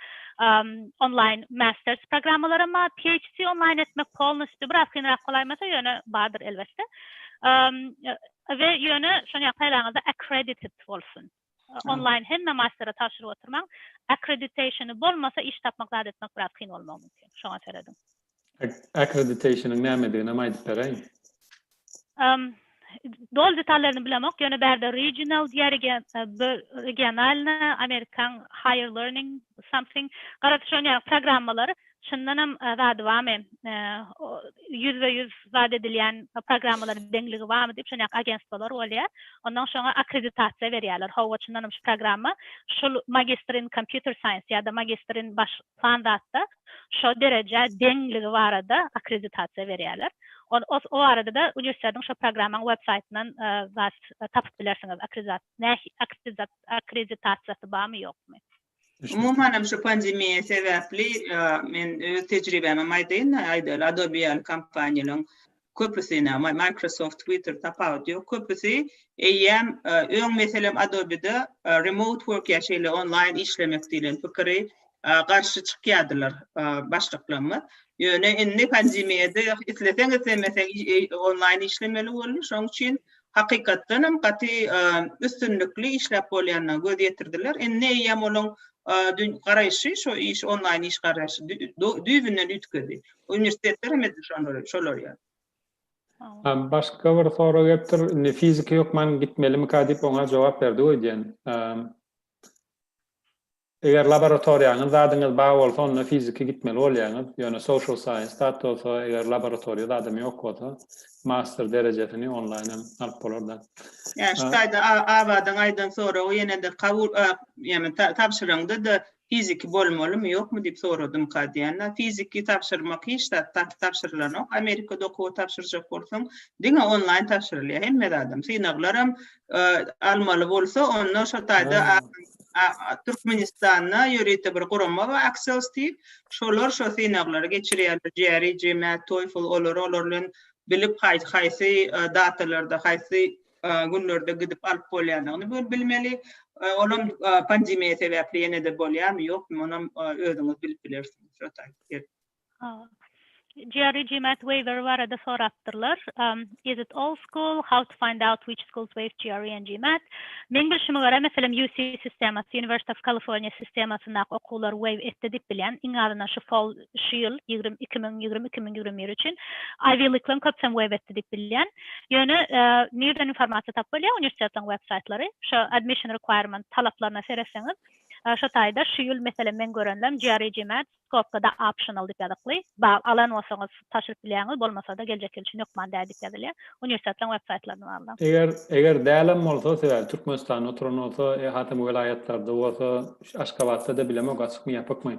onlaýn masters programmalaram bar phd onlaýn etmek polnostýu biraz kynrak bolaýmasa ýöne bardyr elbetde we ýöne şony ýakylaňyzda accredited bolsun onlaýn hemme mastera tabşyryp oturmaň akkreditasiýony bolmasa iş tapmak zat etmek biraz kyn bolmagy mümkin şoňa serediň. Akkreditationyň nämediginem aýdyp beräýiň. Ym Doly detallaryny bilemok, ýöne bärde regional diýýär, regi regionalna amerikan higher learning something garaşýan ýaly programmalar, çyndanam zady barmy, ýüzbe ýüz zat edilýän programmalaryň deňligi barmy diýip şonýaky agentstwalar bolýar. Ondan şoňa akkreditasiýa berýärler. Hawa çyndanam şu programma şul magister in computer science ýa-da magister in baş plan zatda şo derejä deňligi barada akkreditasiýa berýärler. Ol o o barada-da uniwersitetiň şo programmaň web saýtyndan zat tapyp bilersiňiz akkreditasiýa näh akkreditasiýa akkreditasiýasy barmy ýokmy. Umuman hem şu pandemiýa sebäpli men öz tejribämi hem aýdaýyn aýdaýly Adobe ýaly kompaniýalaryň Köpüsi ine Microsoft Twitter tapawut ýok köpüsi eýýäm öň meselem Adobe-de remote work ýa şeýle onlaýn işlemek diýlen pikiri garşy çykýadylar başlyklarymyz ýöne indi pandemiýada isleseň islemeseň onlaýn işlemeli boldy şoň üçin hakykatdan hem gaty üstünlikli işläp bolýanyna göz ýetirdiler indi eýýäm onuň garaýşy şo iş onlaýn iş garaýşy düýbünden üýtgedi Uniwersitetler hem edil şonlar, şolar ýaly. Başga bir sorag gelipdir. Indi fiziki hökman gitmelimika diýip oňa jogap berdi goý diýen. Eger laboratoriýaňyz zadyňyz bar bolsa, onda fiziki gitmeli bolýaňyz. Ýöne social science dat bolsa, eger laboratoriýa zadym ýok bolsa, master derejesini onlaýn hem alyp bolar-da. Ýa şu taýda Abadyň aýdan soragy ýene-de kabul ýa-da tabşyryňda-da Fiziki bolmalymy, ýokmy diýip soradymka diýende, fiziki tabşyrmak hiç zat tabşyrylanok. Amerikada okuwa tabşyrjak bolsaň, diňe onlaýn tabşyrylýar hemme zadam. Synaglaram almaly bolsa, onda şo taýda Türkmenistanda ýörite bir gurama bar, Aksels diýip, şolar şo synaglary geçirýärler, GRE, GMAT, TOEFL, olary olar bilen bilip haýsy datalarda, haýsy günlerde gidip alyp bolýandygyny bir bilmeli. Olam pandemiýa sebäpli ýene-de bolýarmy, ýokmy, onam özüňiz bilip bilersiňiz. Şo taýyp. Jerry GMAT waiver barada sorapdyrlar. Is it all school? How to find out which schools waive GRE and GMAT? Meň bilşime görä, meselem, UC sistemasy, University of California sistemasyndaky okuwlar waive etdi diýip bilýän. Iň azyndan şu fall şu ýyl ýigrimi iki müň ýigrimi iki müň ýigrimi bir üçin Ivy League-laň köpüsem web etdi diýip bilýän. Ýöne nirden informasiýa tapyp bolýar uniwersitetlaň web saýtlary şo admission requirement talaplaryna seretseňiz şo taýda şu ýyl meselem men görenlem GRE GMAT skopkada optional diýip ýazykly bal alan bolsaňyz tapşyryp bilýäňiz bolmasada geljek ýyl üçin hökman däl diýip ýazylýar uniwersitetlaň web saýtlaryna bagly. Eger eger dälem bolsa sebäbi Türkmenistanda oturan bolsa e hasam welaýatlarda bolsa Aşgabatda-da bilemok açykmy ýapykmy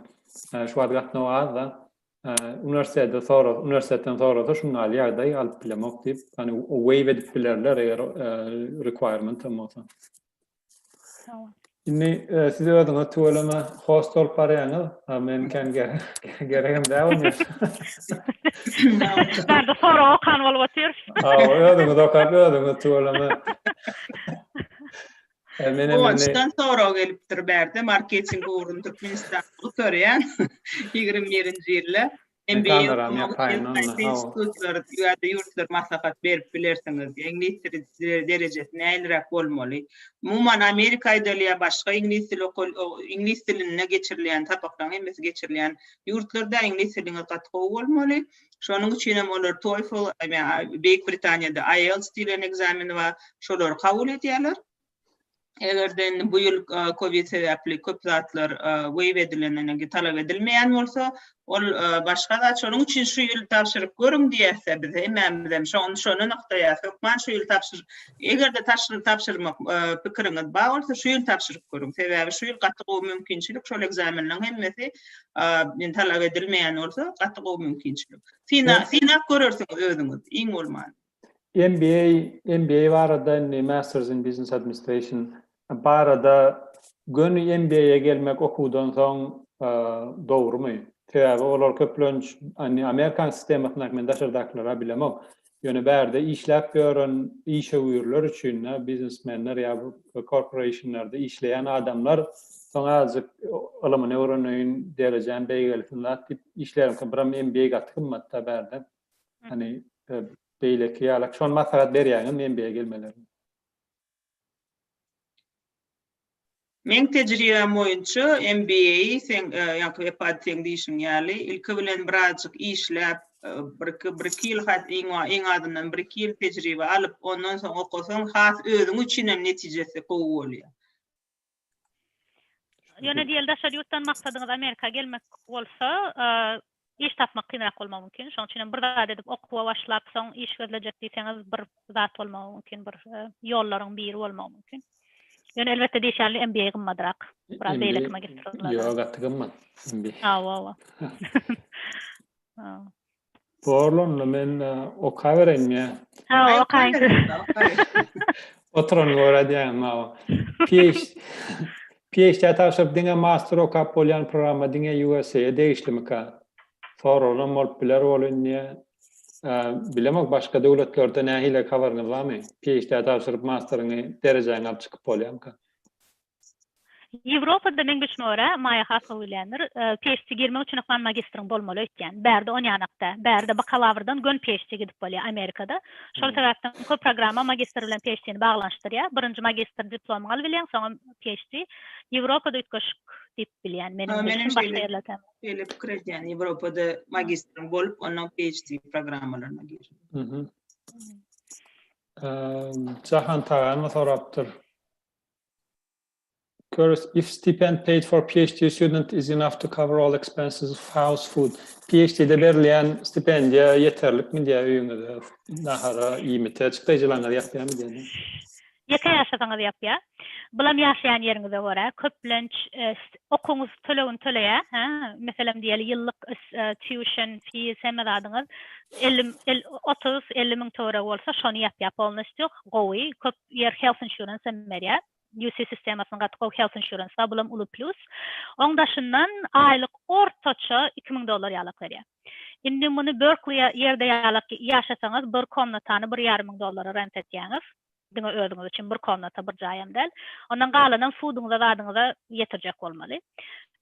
Ee, şu wagt gatnaw az-da. Ee, Üniwersitede soras, üniwersiteden sorasa şuň ýaly ýagdaý alyp bilemok diýip, ýani waive edip bilerler eger e, requirement hem bolsa. Tamam. Indi e, siz özüňiz tüweleme host bolup barýaňyz. Ha, Men kän ge- geregem däl bolýar. Ben de sorag okan bolup otyr. Ha, özüňiz okap, özüňiz tüweleme. Guwançdan sorag gelipdir bärde marketing ugrunda Türkmenistan bolup örýän ýigrimi birinji ýylda ýurtlar maslahat berip bilersiňiz diýip iňlis dili derejesi nähiliräk bolmaly umuman Amerika aýdylýar başga iňlis dili iňlis dilinde geçirilýän sapaklaryň hemmesi geçirilýän ýurtlarda iňlis diliňiz gaty gowy bolmaly Şonuň üçin hem olar TOEFL, Beýik Britaniýada IELTS diýlen ekzameni bar, şolary kabul edýärler. Eger-de indi bu ýyl covid sebäpli köp zatlar weýw edilen, talap edilmeýän bolsa, ol başga zat. Şonuň üçin şu ýyl tabşyryp görüň diýýäs-de biz hemmämizem. Şony şony nygtaýarys. Hökman şu ýyl tabşyr. Eger-de tabşyrmak pikiriňiz bar bolsa, şu ýyl tabşyryp görüň. Sebäbi şu ýyl gaty gowy mümkinçilik, şol ekzamenleriň hemmesi men talap edilmeýän bolsa, gaty gowy mümkinçilik. Syna, synap görersiňiz özüňiz, iň bolman. MBA, MBA barada indi Masters in Business Administration barada göni MBA-ye gelmek okuwdan soň dogrumy? Sebäbi olar köplenç indi Amerikan sistemasyndaky men daşardakylara bilemok. Ýöne bärde işläp ýören işewürler üçin-de, biznesmenler ýa korporationlarda işleýän adamlar soň azajyk ylymyny öwreneýin, derejäm beýgelsin zat diýip işleriňkä biram MBA gaty gymmat-da bärde. Hany beýleki ýalak şony maslahat berýäňizmi MBA gelmelerine? Meň tejribäm boýunça MBA seň ýaňky epady seň diýşiň ýaly ilki bilen birazjyk işläp bir iki bir iki ýyl hat iň azyndan bir iki ýyl tejribe alyp ondan soň okasaň has özüň üçinem netijesi gowy bolýar. Ýöne diýeli daşary ýurtdan maksadyňyz Amerika gelmek bolsa, iş tapmak kynrak bolmagy mümkin. Şonuň üçin hem bir zat edip okuwa başlap, soň iş gözlejek diýseňiz, bir zat bolmagy mümkin, bir ýollaryň biri bolmagy mümkin. Ýöne elbetde diýiş ýaly MBA gymmadrak. Biraz beýleki magistratura. Ýok, gaty gymmat. Hawa, hawa. Borl onda men okabereýin ýa. Ha, okaýyň. Oturan görýän mawa. PH PHD tabşyryp diňe master okap bolýan programma diňe USA-a degişlimika? Soraglam bolup biler ol indi. Bilemok başga döwletlerde nähili habaryňyz barmy? PHD tabşyryp masteriňi derejäňi alyp çykyp bolýamyka? Ýewropada meň bilşime görä, Maýa has gowy bilýändir, PHD girmek üçin hökman magistriň bolmaly öýtýän. Bärde on ýanakda. Bärde bakalawrdan göni PHD gidip bolýar Amerikada. Şol sebäpden köp programma magistr bilen PHD-ni baglanyşdyrýar. Birinji magistr diplomyňy alyp bilýäň, soňam PHD. Ýewropada üýtgeşik diýip bilýän meniň bilşim, başga ýerler tä. Şeýle pikir edýän, Ýewropada magistriň bolup, ondan PHD programmalaryna girmek. Jahan Taganow sorapdyr. Görüs, If stipend paid for PhD student is enough to cover all expenses of house food, PhD-de berilýän stipendiýa ýeterlikmi diýýär öýüňize nahara, iýmite, çykdaýjylaryňyz ýapýarmy diýýär diňe. Ýeke ýaşasaňyz ýapýar. Bulam ýaşaýan ýeriňize görä. Köplenç okuwyňyz tölegini töleýär. Hä, meselem diýeli ýyllyk tuition fees hemme zadyňyz elli, otuz, elli müň töweregi bolsa şony ýapýar. Polnostýu gowy, köp Ýer Health Insurance hem berýär. UC sistemasyny gaty gowy Health Insurance bar, bul hem uly plýus. Oň daşyndan aýlyk ortaça iki müň dollar ýalak berýär. Indi muny Berkli ýa ýerde ýalak ýaşasaňyz bir komnatany bir ýarym müň dollara rent etýäňiz. Diňe özüňiz üçin bir komnata, bir jaý hem däl. Ondan galanam fuduňyza zadyňyza ýetirjek bolmaly.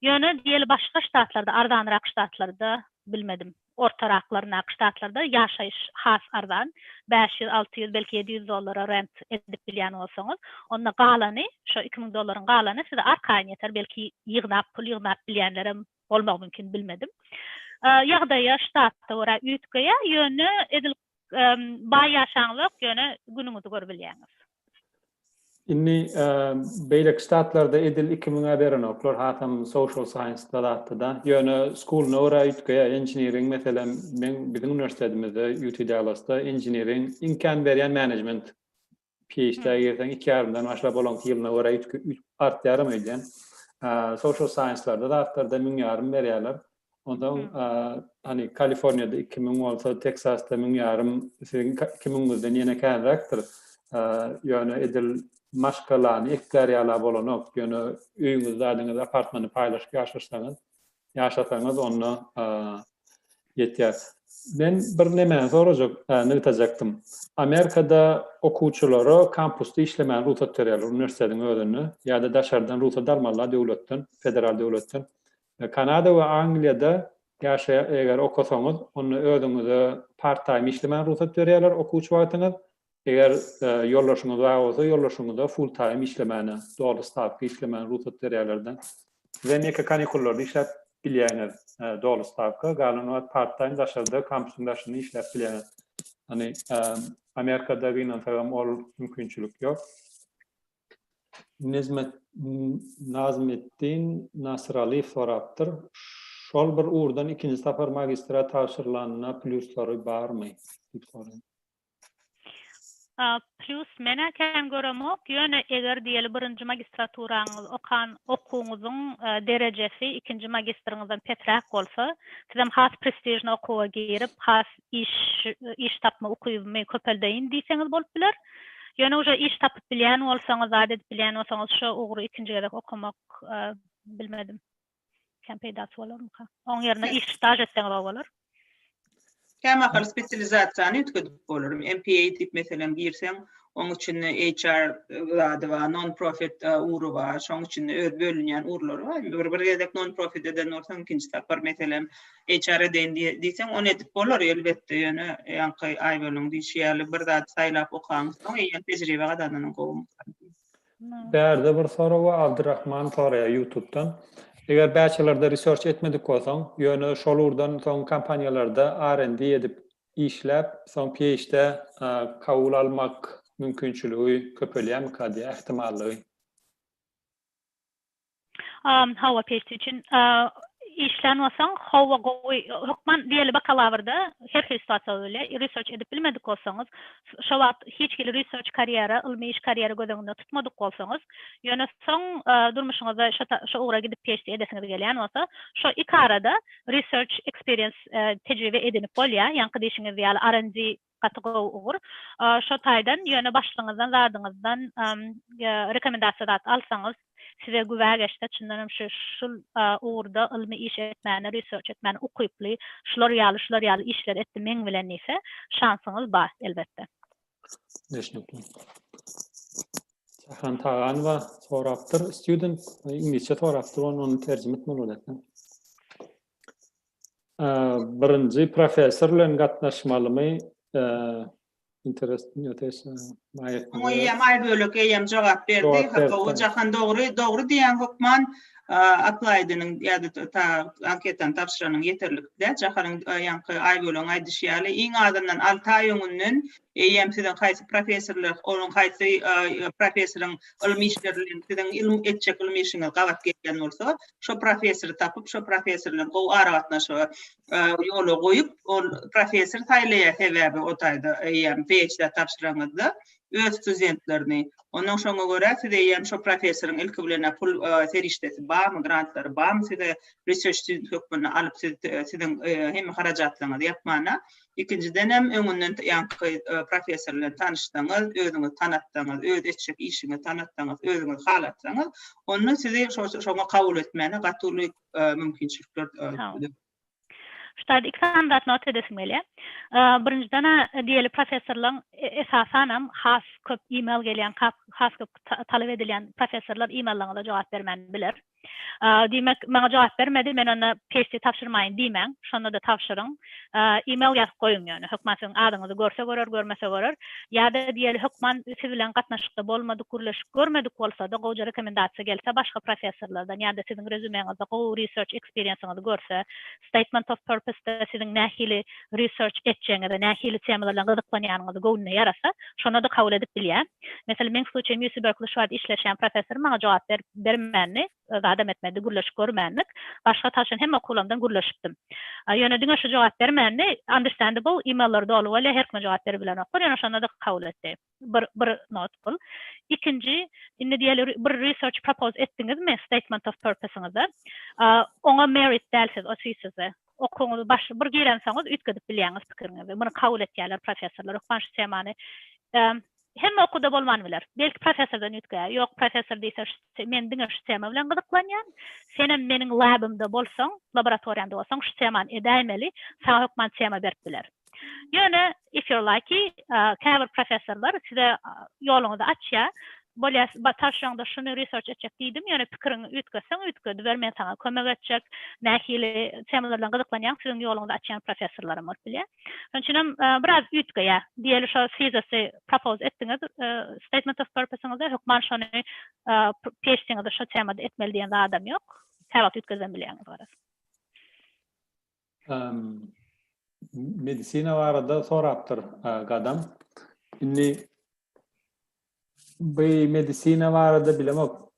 Ýöne diýeli başga ştatlarda, arzanyrak ştatlarda bilmedim. Orta raklaryndaky ştatlarda ýaşaýyş has arzan, bäş ýüz, alty ýüz, belki ýedi ýüz dollara rent edip bilýän bolsaňyz, onda galany, şo iki müň dollaryň galany size arkaýyn ýeter, belki ýygnap, pul ýygnap bilýänlerem bolmagy mümkin, bilmedim. Ýagdaýa, ştata görä üýtgeýär, ýöne edil baý ýaşaňyzok, ýöne günüňizi görübilýäňiz. Indi beýleki ştatlarda edil 2000-e berenoklar, hasam social science-da zatda-da. Ýöne school-una görä üýtgeýär. Engineering, meselem, meň biziň uniwersitetimize, UT Dallas-da engineering iň kän berýän management. PhD-ä girseň iki ýarymdan başlap olaňky ýylyna görä üýtgüp artýaram öýdýän. Social science-larda zatlarda müň ýarym berýärler. Ondan hani Kaliforniýada 2000 bolsa, Teksasda 1000 ýarym, siziň 2000 bizden ýene känräkdir. Ýöne edil maşgalany eklär ýala bolanok. Ýöne öýüňizde adyňyz apartmany paýlaşyp ýaşasaňyz, ýaşasaňyz onda ýetýär. Men bir nemäni sorajak, nygtajakdym. Amerikada okuwçylara kampusda işlemäge rugsat berýärler uniwersitetiň özünde ýa-da daşardan rugsat almalylar döwletden, federal döwletden. Kanada we Angliýada ýaşa eger okasaňyz, onda özüňize part-time işlemäge rugsat berýärler okuwçy wagtyňyz. Eger ýoldaşyňyz bar bolsa, ýoldaşyňyza full-time işlemäne, doly stawka işlemäne rugsat berýärler-de. Siz hem ýeke kanikullarda işläp bilýäňiz doly stawka, galan wagt part-time daşarda, kampusyň daşynda işläp bilýäňiz. Ýagny Amerikada gynansagam ol mümkinçilik ýok. Nezmet Nazmetdin Nasyraliýew sorapdyr. Şol bir ugurdan ikinji sapar magistra tabşyrylanda plýuslary barmy? diýip soraýar. Plýus menä kän göremok, ýöne eger diýeli birinji magistraturaňyz okan okuwyňyzyň derejesi ikinji magistriňizden pesräk bolsa, sizem has prestižni okuwa girip, has iş, iş tapma ukybymy köpeldeýin diýseňiz bolup biler. Ýöne uje iş tapyp bilýän bolsaňyz, zat edip bilýän bolsaňyz şo ugry ikinji gezek okamak bilmedim. Kän peýdasy bolarmyka? Oň ýerine iş staž etseňiz gowy bolar. Kämahal spesializasiýany üýtgedip bolar. MPA diýip meselem girseň, oň içinde HR zady bar, non-profit ugry bar. Şoň içinde öz bölünýän ugurlary bar. Bir gezek non-profit eden bolsaň, ikinji sapar meselem HR edeýin diýseň, ony edip bolar elbetde, ýöne ýaňky Aýboluň diýşi ýaly bir zady saýlap okaň, soň eýýäm tejribe gazananyň gowy. Bärde bir soragy Abdurrahman soraýar ýutubdan. Eger bäçelarda research etmedik bolsaň, ýöne şol ugurdan soň kompaniýalarda R&D edip işläp, soň PhD-ä kabul almak mümkinçiligi köpelýärmika diýýär, ähtimallygy? Howa peçi üçin işlän bolsaň, howa gowy, hökman diýeli bakalavrda her hili situasiýa bolup bilýär. Research edip bilmedik bolsaňyz, şo wagt hiç hili research karýera, ylmy iş karýera göz öňünde tutmadyk bolsaňyz, ýöne soň durmuşyňyzda şo ugra gidip PHD edesiňiz gelýän bolsa, şo iki arada research experience, tejribe edinip bolýar, ýaňky diýşiňiz ýaly R&D Gaty gowy ugur. Şo taýdan ýöne başlygyňyzdan zadyňyzdan rekomendasiýa zat alsaňyz size güwä geçse çyndan hem şu şul ugurda ylmy iş etmäne research etmäne ukyply şular ýaly şular ýaly işler etdi meň bilen diýse şansyňyz bar elbetde. Düşnükli. Şahram Taganowa sorapdyr student iňlisçe sorapdyr ony terjime etmeli bolarka. Birinji professor bilen gatnaşmalymy? Interesting notation. Eýýäm aý bölek eýýäm jogap berdi. Gowy Jahan dogry, dogry diýýän hökman aplaýdynyň ýa-da ta anketany tabşyranyň ýeterlikdä. Jahanyň ýaňky aý bölegiň aýdyşy ýaly iň azyndan alty aý öňünden Eýýäm siziň haýsy professorlar, onuň haýsy professoryň ylmy işleri bilen siziň ylym etjek ylmy işiňiz gabat gelýän bolsa, şo professory tapyp, şo professor bilen gowy aragatnaşygy ýola goýup, ol professor saýlaýar sebäbi o taýda eýýäm PHD tabşyranyňyzda öz studentlerini. Onnoň şoňa görä siz eýýäm şo professoryň ilki bilen-ä pul serişdesi barmy, grantlary barmy size research student hökmünde alyp siz siziň hemme harajatlaryňyzy ýapmana, Ikinjidenem öňünden ýaňky professor bilen tanyşsaňyz, özüňizi tanatsaňyz, öz etjek işiňizi tanatsaňyz, özüňizi halatsaňyz, onda sizi şoňa kabul etmäne gaty uly mümkinçilikler dörediler. Ştaýd iki sany zat nota edesim gelýär. Birinjiden diýeli professorlaň esasanam has köp email gelýän, has köp talap edilýän professorlar emaillaryňyza jogap bermän biler. Diýmek, maňa jogap bermedi, men onda PHC tabşyrmaýyn diýmäň, şonda-da tabşyryň. E-mail ýazyp goýuň ýöne. Hökman siziň adyňyzy görse görer, görmese görer. Ýa-da diýeli, hökman siz bilen gatnaşykda bolmadyk, gürleşip görmedik bolsa-da, gowja rekomendasiýa gelse başga professorlardan ýa-da siziň rezýumeňizde gowy research experience-iňizi görse, Statement of Purpose-da siziň nähili research etjegiňiz we nähili temalar bilen gyzyklanýanyňyzy göwnüne ýarasa, şony-da kabul edip bilýär. Meselem, meň sluçaýym Ýusi Berkli şu wagt işleşýän professory maňa jogap berip bermändi, zadam etmedi, gürleşip görmändik. Başga tanşan hemme okuwlarymdan gürleşipdim. Ýöne diňe şu jogap bermändi. Understandable, e-mailleri doly bolýar, her kime jogap beribilenoklar, ýöne şonda-da kabul etdi. bir bir not bul. Ikinji, indi diýeli bir research propose etdiňizmi statement of purpose-yňyzda? Oňa merit dälsiz, o sizde. Okuwyňyzy baş bir girensoňyz üýtgedip bilýäňiz pikiriňizi. Muny kabul etýärler professorlar. Hökman şu temany hemme okuwda bolman biler. Belki professordan üýtgeýär. Ýok, professor diýse men diňe şu tema bilen gyzyklanýan. Senem meniň labymda bolsaň, laboratoriýamda bolsaň şu temany edäýmeli. Saňa hökman tema berip biler. Ýöne if you're lucky käbir professorlar size ýoluňyzy açýar. Bolýar tarşyňda şuny research etjek diýdim ýöne pikiriňi üýtgetseň üýtgediber men saňa kömek etjek. Nähili temalar bilen gyzyklanýaň siziň ýoluňyzy açýan professorlaram bolup bilýär. Şonuň üçinem biraz üýtgeýär. Diýeli şo thesis-i propose etdiňiz statement of purpose-yňyzda hökman şony PHD-ňizi şo temada etmeli diýen zadam ýok. Käwagt üýtgedibem bilýäňiz garaz. Medisina barada sorapdyr gadam. Indi bu medisina barada bilemok.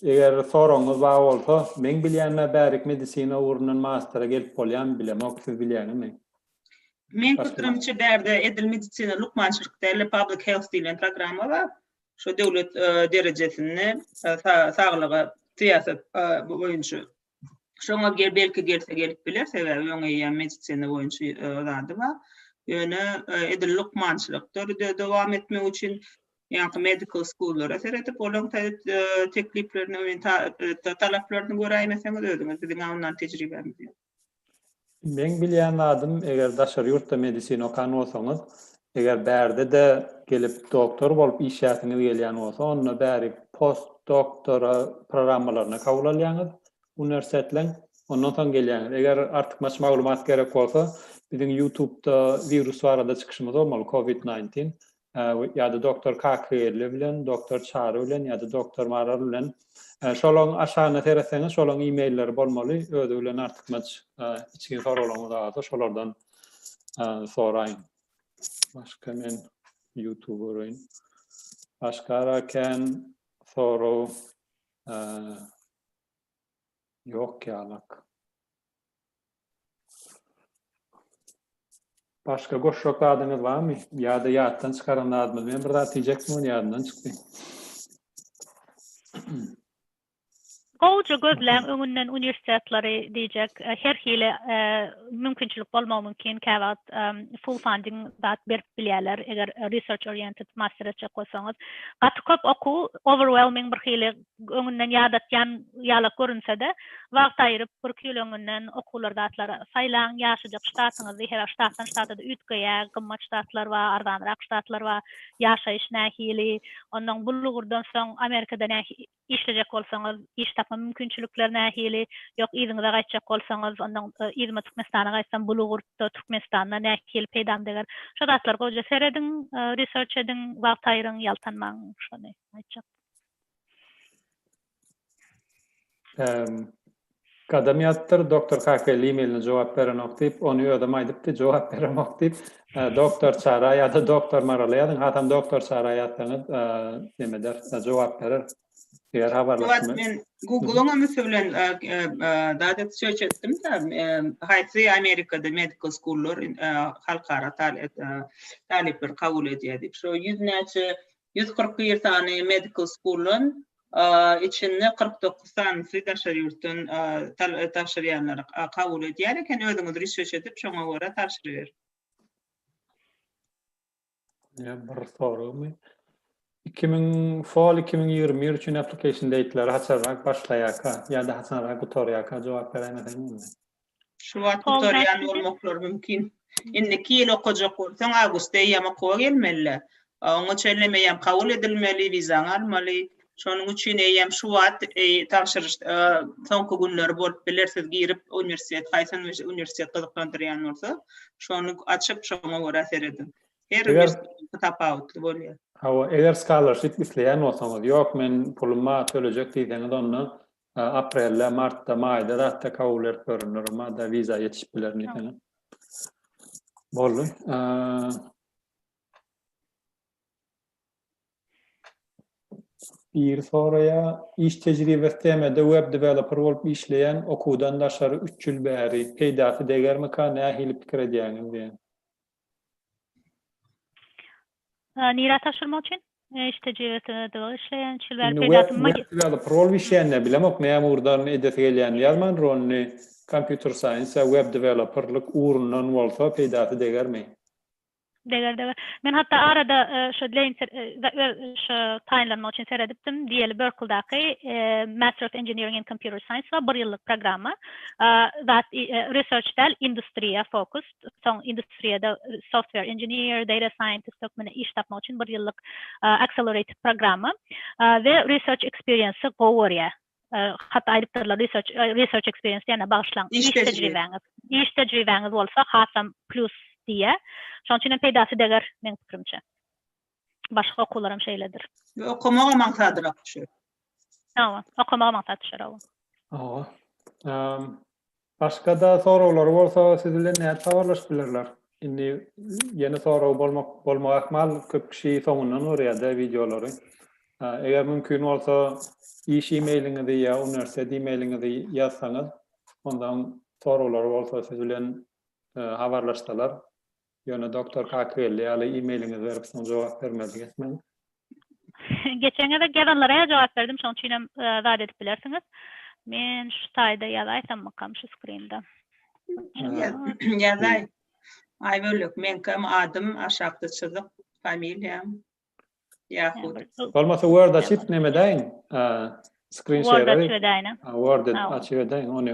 Eger soragyňyz bar bolsa, men bilýänme bärik medisina ugrundan mastera gelip bolýan bilemok, siz bilýäňizmi? Men köpdürimçe bärde edil medisina lukmançylyk däl, public health diýlen programma bar. Şu döwlet derejesinde saglyga syýasat boýunça Şoňa gel belki gelse gelip biler sebäbi ýoň eýýäm medisina boýunça e, zady bar. Ýöne e, edil lukmançylykdyr de- dowam etmek üçin ýaňky medical schoollara seredip olaryň taýyp e, tekliplerini we ta- e, ta- talaplaryny göräýmeseňiz özüňiz biziň ondan tejribämiz ýok. Meň bilýän zadym, eger daşary ýurtda medisina okan bolsaňyz, eger bärde-de gelip doktor bolup işleyäsiňiz gelýän bolsa, onda bäri postdoktora programmalaryna kabul alýaňyz uniwersitetleň, ondan soň gelýäňiz. Eger artykmaç maglumat gerek bolsa, biziň Youtubda wirus barada çykyşymyz bolmaly, covid nineteen. ýa-da doktor Kakyýelli bilen, doktor Çary bilen ýa-da doktor Maral bilen. Şolaň aşagyna seretseňiz, şolaň e-mailleri bolmaly. Özi bilen artykmaç içgin soraglaryňyz barsa, şolardan soraýyň. Başga men YouTube göreýin. Başga kän sorag ýok ýalak. Başga goşjak zadyňyz barmy? Ýa-da ýatdan çykaran zadyňyz? Men bir zat diýjekdim, ony ýadymdan çykdy. Gowja gözläň öňünden uniwersitetlary diýjek her hili mümkinçilik bolmagy mümkin kä wagt full funding zat berip bilýärler eger research oriented master etjek bolsaňyz gaty köp okuw overwhelming bir hili Öňünden ýadatýan ýalak görünse-de, wagt aýryp, bir küýleňinden okuwlar, zatlar saýlaň, ýaşajak ştatyňyzy, her ştatdan ştata-da üýtgeýä, gymmat ştatlar bar, arzanrak ştatlar bar, ýaşaýyş nähili, onnoň bul ugurdan soň Amerikada nähi işlejek bolsaňyz, iş tapma mümkinçilikleri nähili, ýok yzyňyza gaýtjak bolsaňyz, onnoň yzyma Türkmenistana gaýtsam, bul ugurda Türkmenistanda nähili peýdam deger, şo zatlar goja serediň, research ediň, wagt aýryň, ýaltanmaň, şony aýtjak. Gadam ýatypdyr, doktor kaka e-mailine jogap berenok diýip, ony özem aýdypdy, jogap beremok diýip, doktor Çara ýa-da doktor Marala ýazyň, hasam doktor Çara ýazsaňyz, näme eder, jogap berer. Eger habarlaşma. Men Google-yň hem üsti bilen zat edip söýüş etdim-de, haýsy Amerikada medical school-lar halkara talyplary kabul edýär diýip, şo ýüz näçe ýüz kyrk bir sany medical school-dan, içinde kyrk dokuz sanysy daşary ýurtdan tabşyrýanlary kabul edýär eken, özüňiz research edip, şoňa görä tabşyryberiň. Ýa bir soragmy? Iki müň, fall iki müň ýigrimi bir üçin application date-leri haçanrak başlaýarka ýa-da haçanrak gutarýarka jogap beräýmeseň boldy. Şu wagt gutarýan bolmaklary mümkin. Indiki ýyl okajak bolsaň, awgustda eýýäm okuwa gelmeli-le. Oňa çenli meýem kabul edilmeli, wizaňy almaly. Şonuň üçin eýýäm şu wagt tabşyryş soňky günleri bolup biler. Siz girip uniwersitet, haýsy uniwersitet gyzyklandyrýan bolsa, şony açyp, şoňa görä serediň. Her uniwersitet tapawutly bolýar. Hawa, eger scholarship isleýän bolsaňyz, ýok men pulum bar, tölejek diýseňiz, onda Aprelde, martda, maýda zatda kabul berip görenler bolmada wiza ýetişip biler diýseň. Boldy. Biri soraýar, iş tejribesi TM-de web developer bolup işleýän, okuwdan daşary üç ýyl bäri, peýdasy degermika, nähili pikir edýäňiz diýen. Nirä tabşyrmak üçin? Eşde jebesede işleýän şul bäri peýdasy maý. Web prol işleýänler bilemok näme ugurdan edesi gelýänini ýazman rolny kompýuter saýns ýa web deweloperlik ugrundan bolsa peýdasy degermi? Deger deger. Men hatda arada şo Dlainser öz şo taýynlanmak üçin seredipdim diýeli Berkldaky Master of Engineering in Computer Science bar bir ýyllyk programma zat research däl industriýa fokus. soň industriýada software engineer, data scientist hökmünde iş tapmak üçin bir ýyllyk accelerated programma we research experience-i gowy görýär. Hatda aýdypdyrlar research research experience diýende bagyşlaň, iş tejribäňiz, iş tejribäňiz bolsa hasam plus diýýär. Şonuň üçin hem peýdasy deger meň pikirimçe. Başga okuwlar hem şeýledir. Ýa okamaga maňsadyna düşer. Hawa, okamaga maňsat düşer, hawa. Hawa. Ehm, Başga-da soraglary bolsa siz bilen nädip habarlaşyp bilerler? Indi ýene sorag bolmak bolmagy ähmal, köp kişi soňundan görýär-de wideolary. Ha, Eger mümkin bolsa, iş e-mailiňizi ýa uniwersitet e-mailiňizi ýazsaňyz, onda soraglary bolsa siz bilen e, habarlaşsalar, Ýöne doktor kak geldi ýaly emailiňizi berip soň jogap bermedik etmäň. Geçen gezek ýazanlara-a jogap berdim şoň üçinem zat edip bilersiňiz. Men şu taýda ýazaýsammykam şu skrinda. Ýazaý. Aýbölek meňkem adym aşakda çyzyk familiýam. Ýahut. Bolmasa word açyp näme edäýiň? Skrin şeýer. Word açyp edäýin. Word açyp edäýiň ony.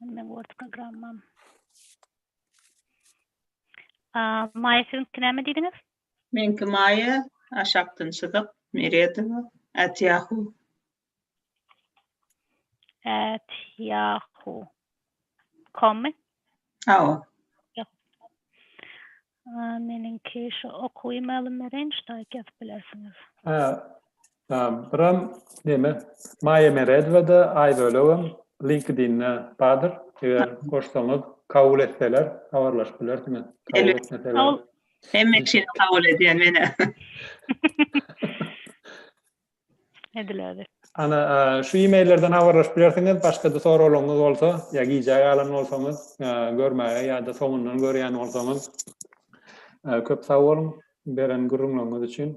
Meň Word programmam. Maýa siziňki näme diýdiňiz? Meňki Maýa, aşakdan çyzyk, Meredowa, at Yahoo. At Yahoo. Kommy? Hawa. A meniňki şu okuwy mälim bereýin şu taýt ýazyp bilersiňiz. Hä. Buram neme Maýa Meredowada aýbölegem LinkedIn'de bardyr. Eger goşsaňyz kabul etseler habarlaşyp bilersiňiz. Kabul etmeseler. Hemme kişini kabul edýän menä. edilädi. Ana, şu e-maillerden habarlaşyp bilersiňiz. Başga-da soraglaryňyz bolsa, ýa gijä galan bolsaňyz, görmäge ýa-da soňundan görýän bolsaňyz, köp sag boluň beren gürrüňleriňiz üçin.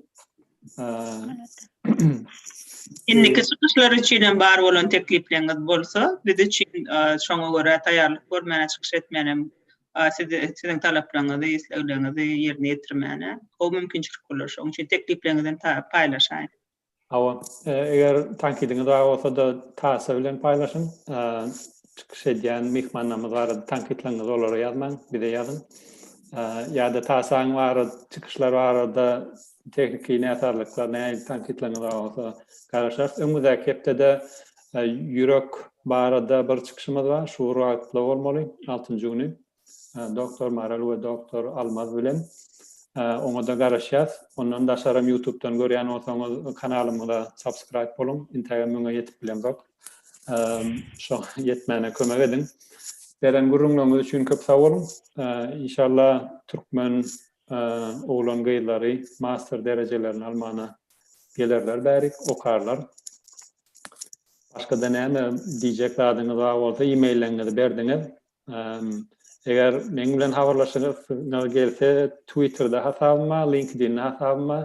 Indiki çykyşlar üçin hem bar bolan teklipleriniz bolsa, biz üçin şoňa görä taýýarlyk görmäne çykyş etmänem A siz siziň talaplaryňyzy, isleglerinizi ýerine ýetirmäne gowy mümkinçilik bolar. Şonuň üçin tekliplerinizi hem paýlaşaýyň. Hawa, eger tankydyňyz bar bolsa-da taýsa bilen paýlaşyň. Çykyş edýän myhmanlarymyz barada tankytlaryňyzy olara ýazmaň, bize ýazyň. Ýa-da taýsaň barada, çykyşlar barada tehniki näsazlyklar, nähili tankytlaryňyz bar bolsa garaşarys. Öňümizdäki hepdede Ýürek barada bir çykyşymyz bar, şu bir wagtda bolmaly, altynjy güni doktor Maral we doktor Almaz bilen. Oňa-da garaşýas. Ondan daşaram ýutubdan görýän bolsaňyz, kanalymyza subscribe boluň. Intägem müňe ýetip bilemzok. Şo ýetmäne kömek ediň. Beren gürrüňleriňiz üçin köp sag boluň. Inşalla türkmen oglan-gyzlary master derejelerini almana gelerler bärik, okarlar. Başga-da näme diýjek zadyňyz bar bolsa, e-maillerňizi berdiňiz. Eger meň bilen habarlaşasyňyz gelse, Twitter-de hasabyma, LinkedIn-de hasabyma,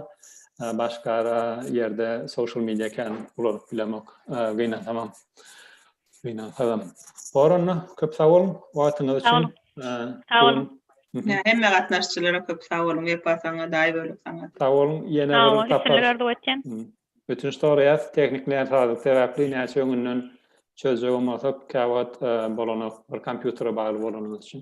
başga ýerde social media kän ulanyp bilemok, gynansam. Gynansagam. Bor onda, köp sag boluň wagtyňyz üçin. Sag boluň. Hemme gatnaşyjylara köp sag boluň, Wepa saňa, Daýy bölek saňa. Sag boluň, ýene bir tapar. Sag boluň, sizleri arzuw etýän. Ötünç soraýas tehnik näsazlyk sebäpli näçe öňünden çözjegem bolsak käwagt bolanok bir kompýutere bagly bolanymyz üçin.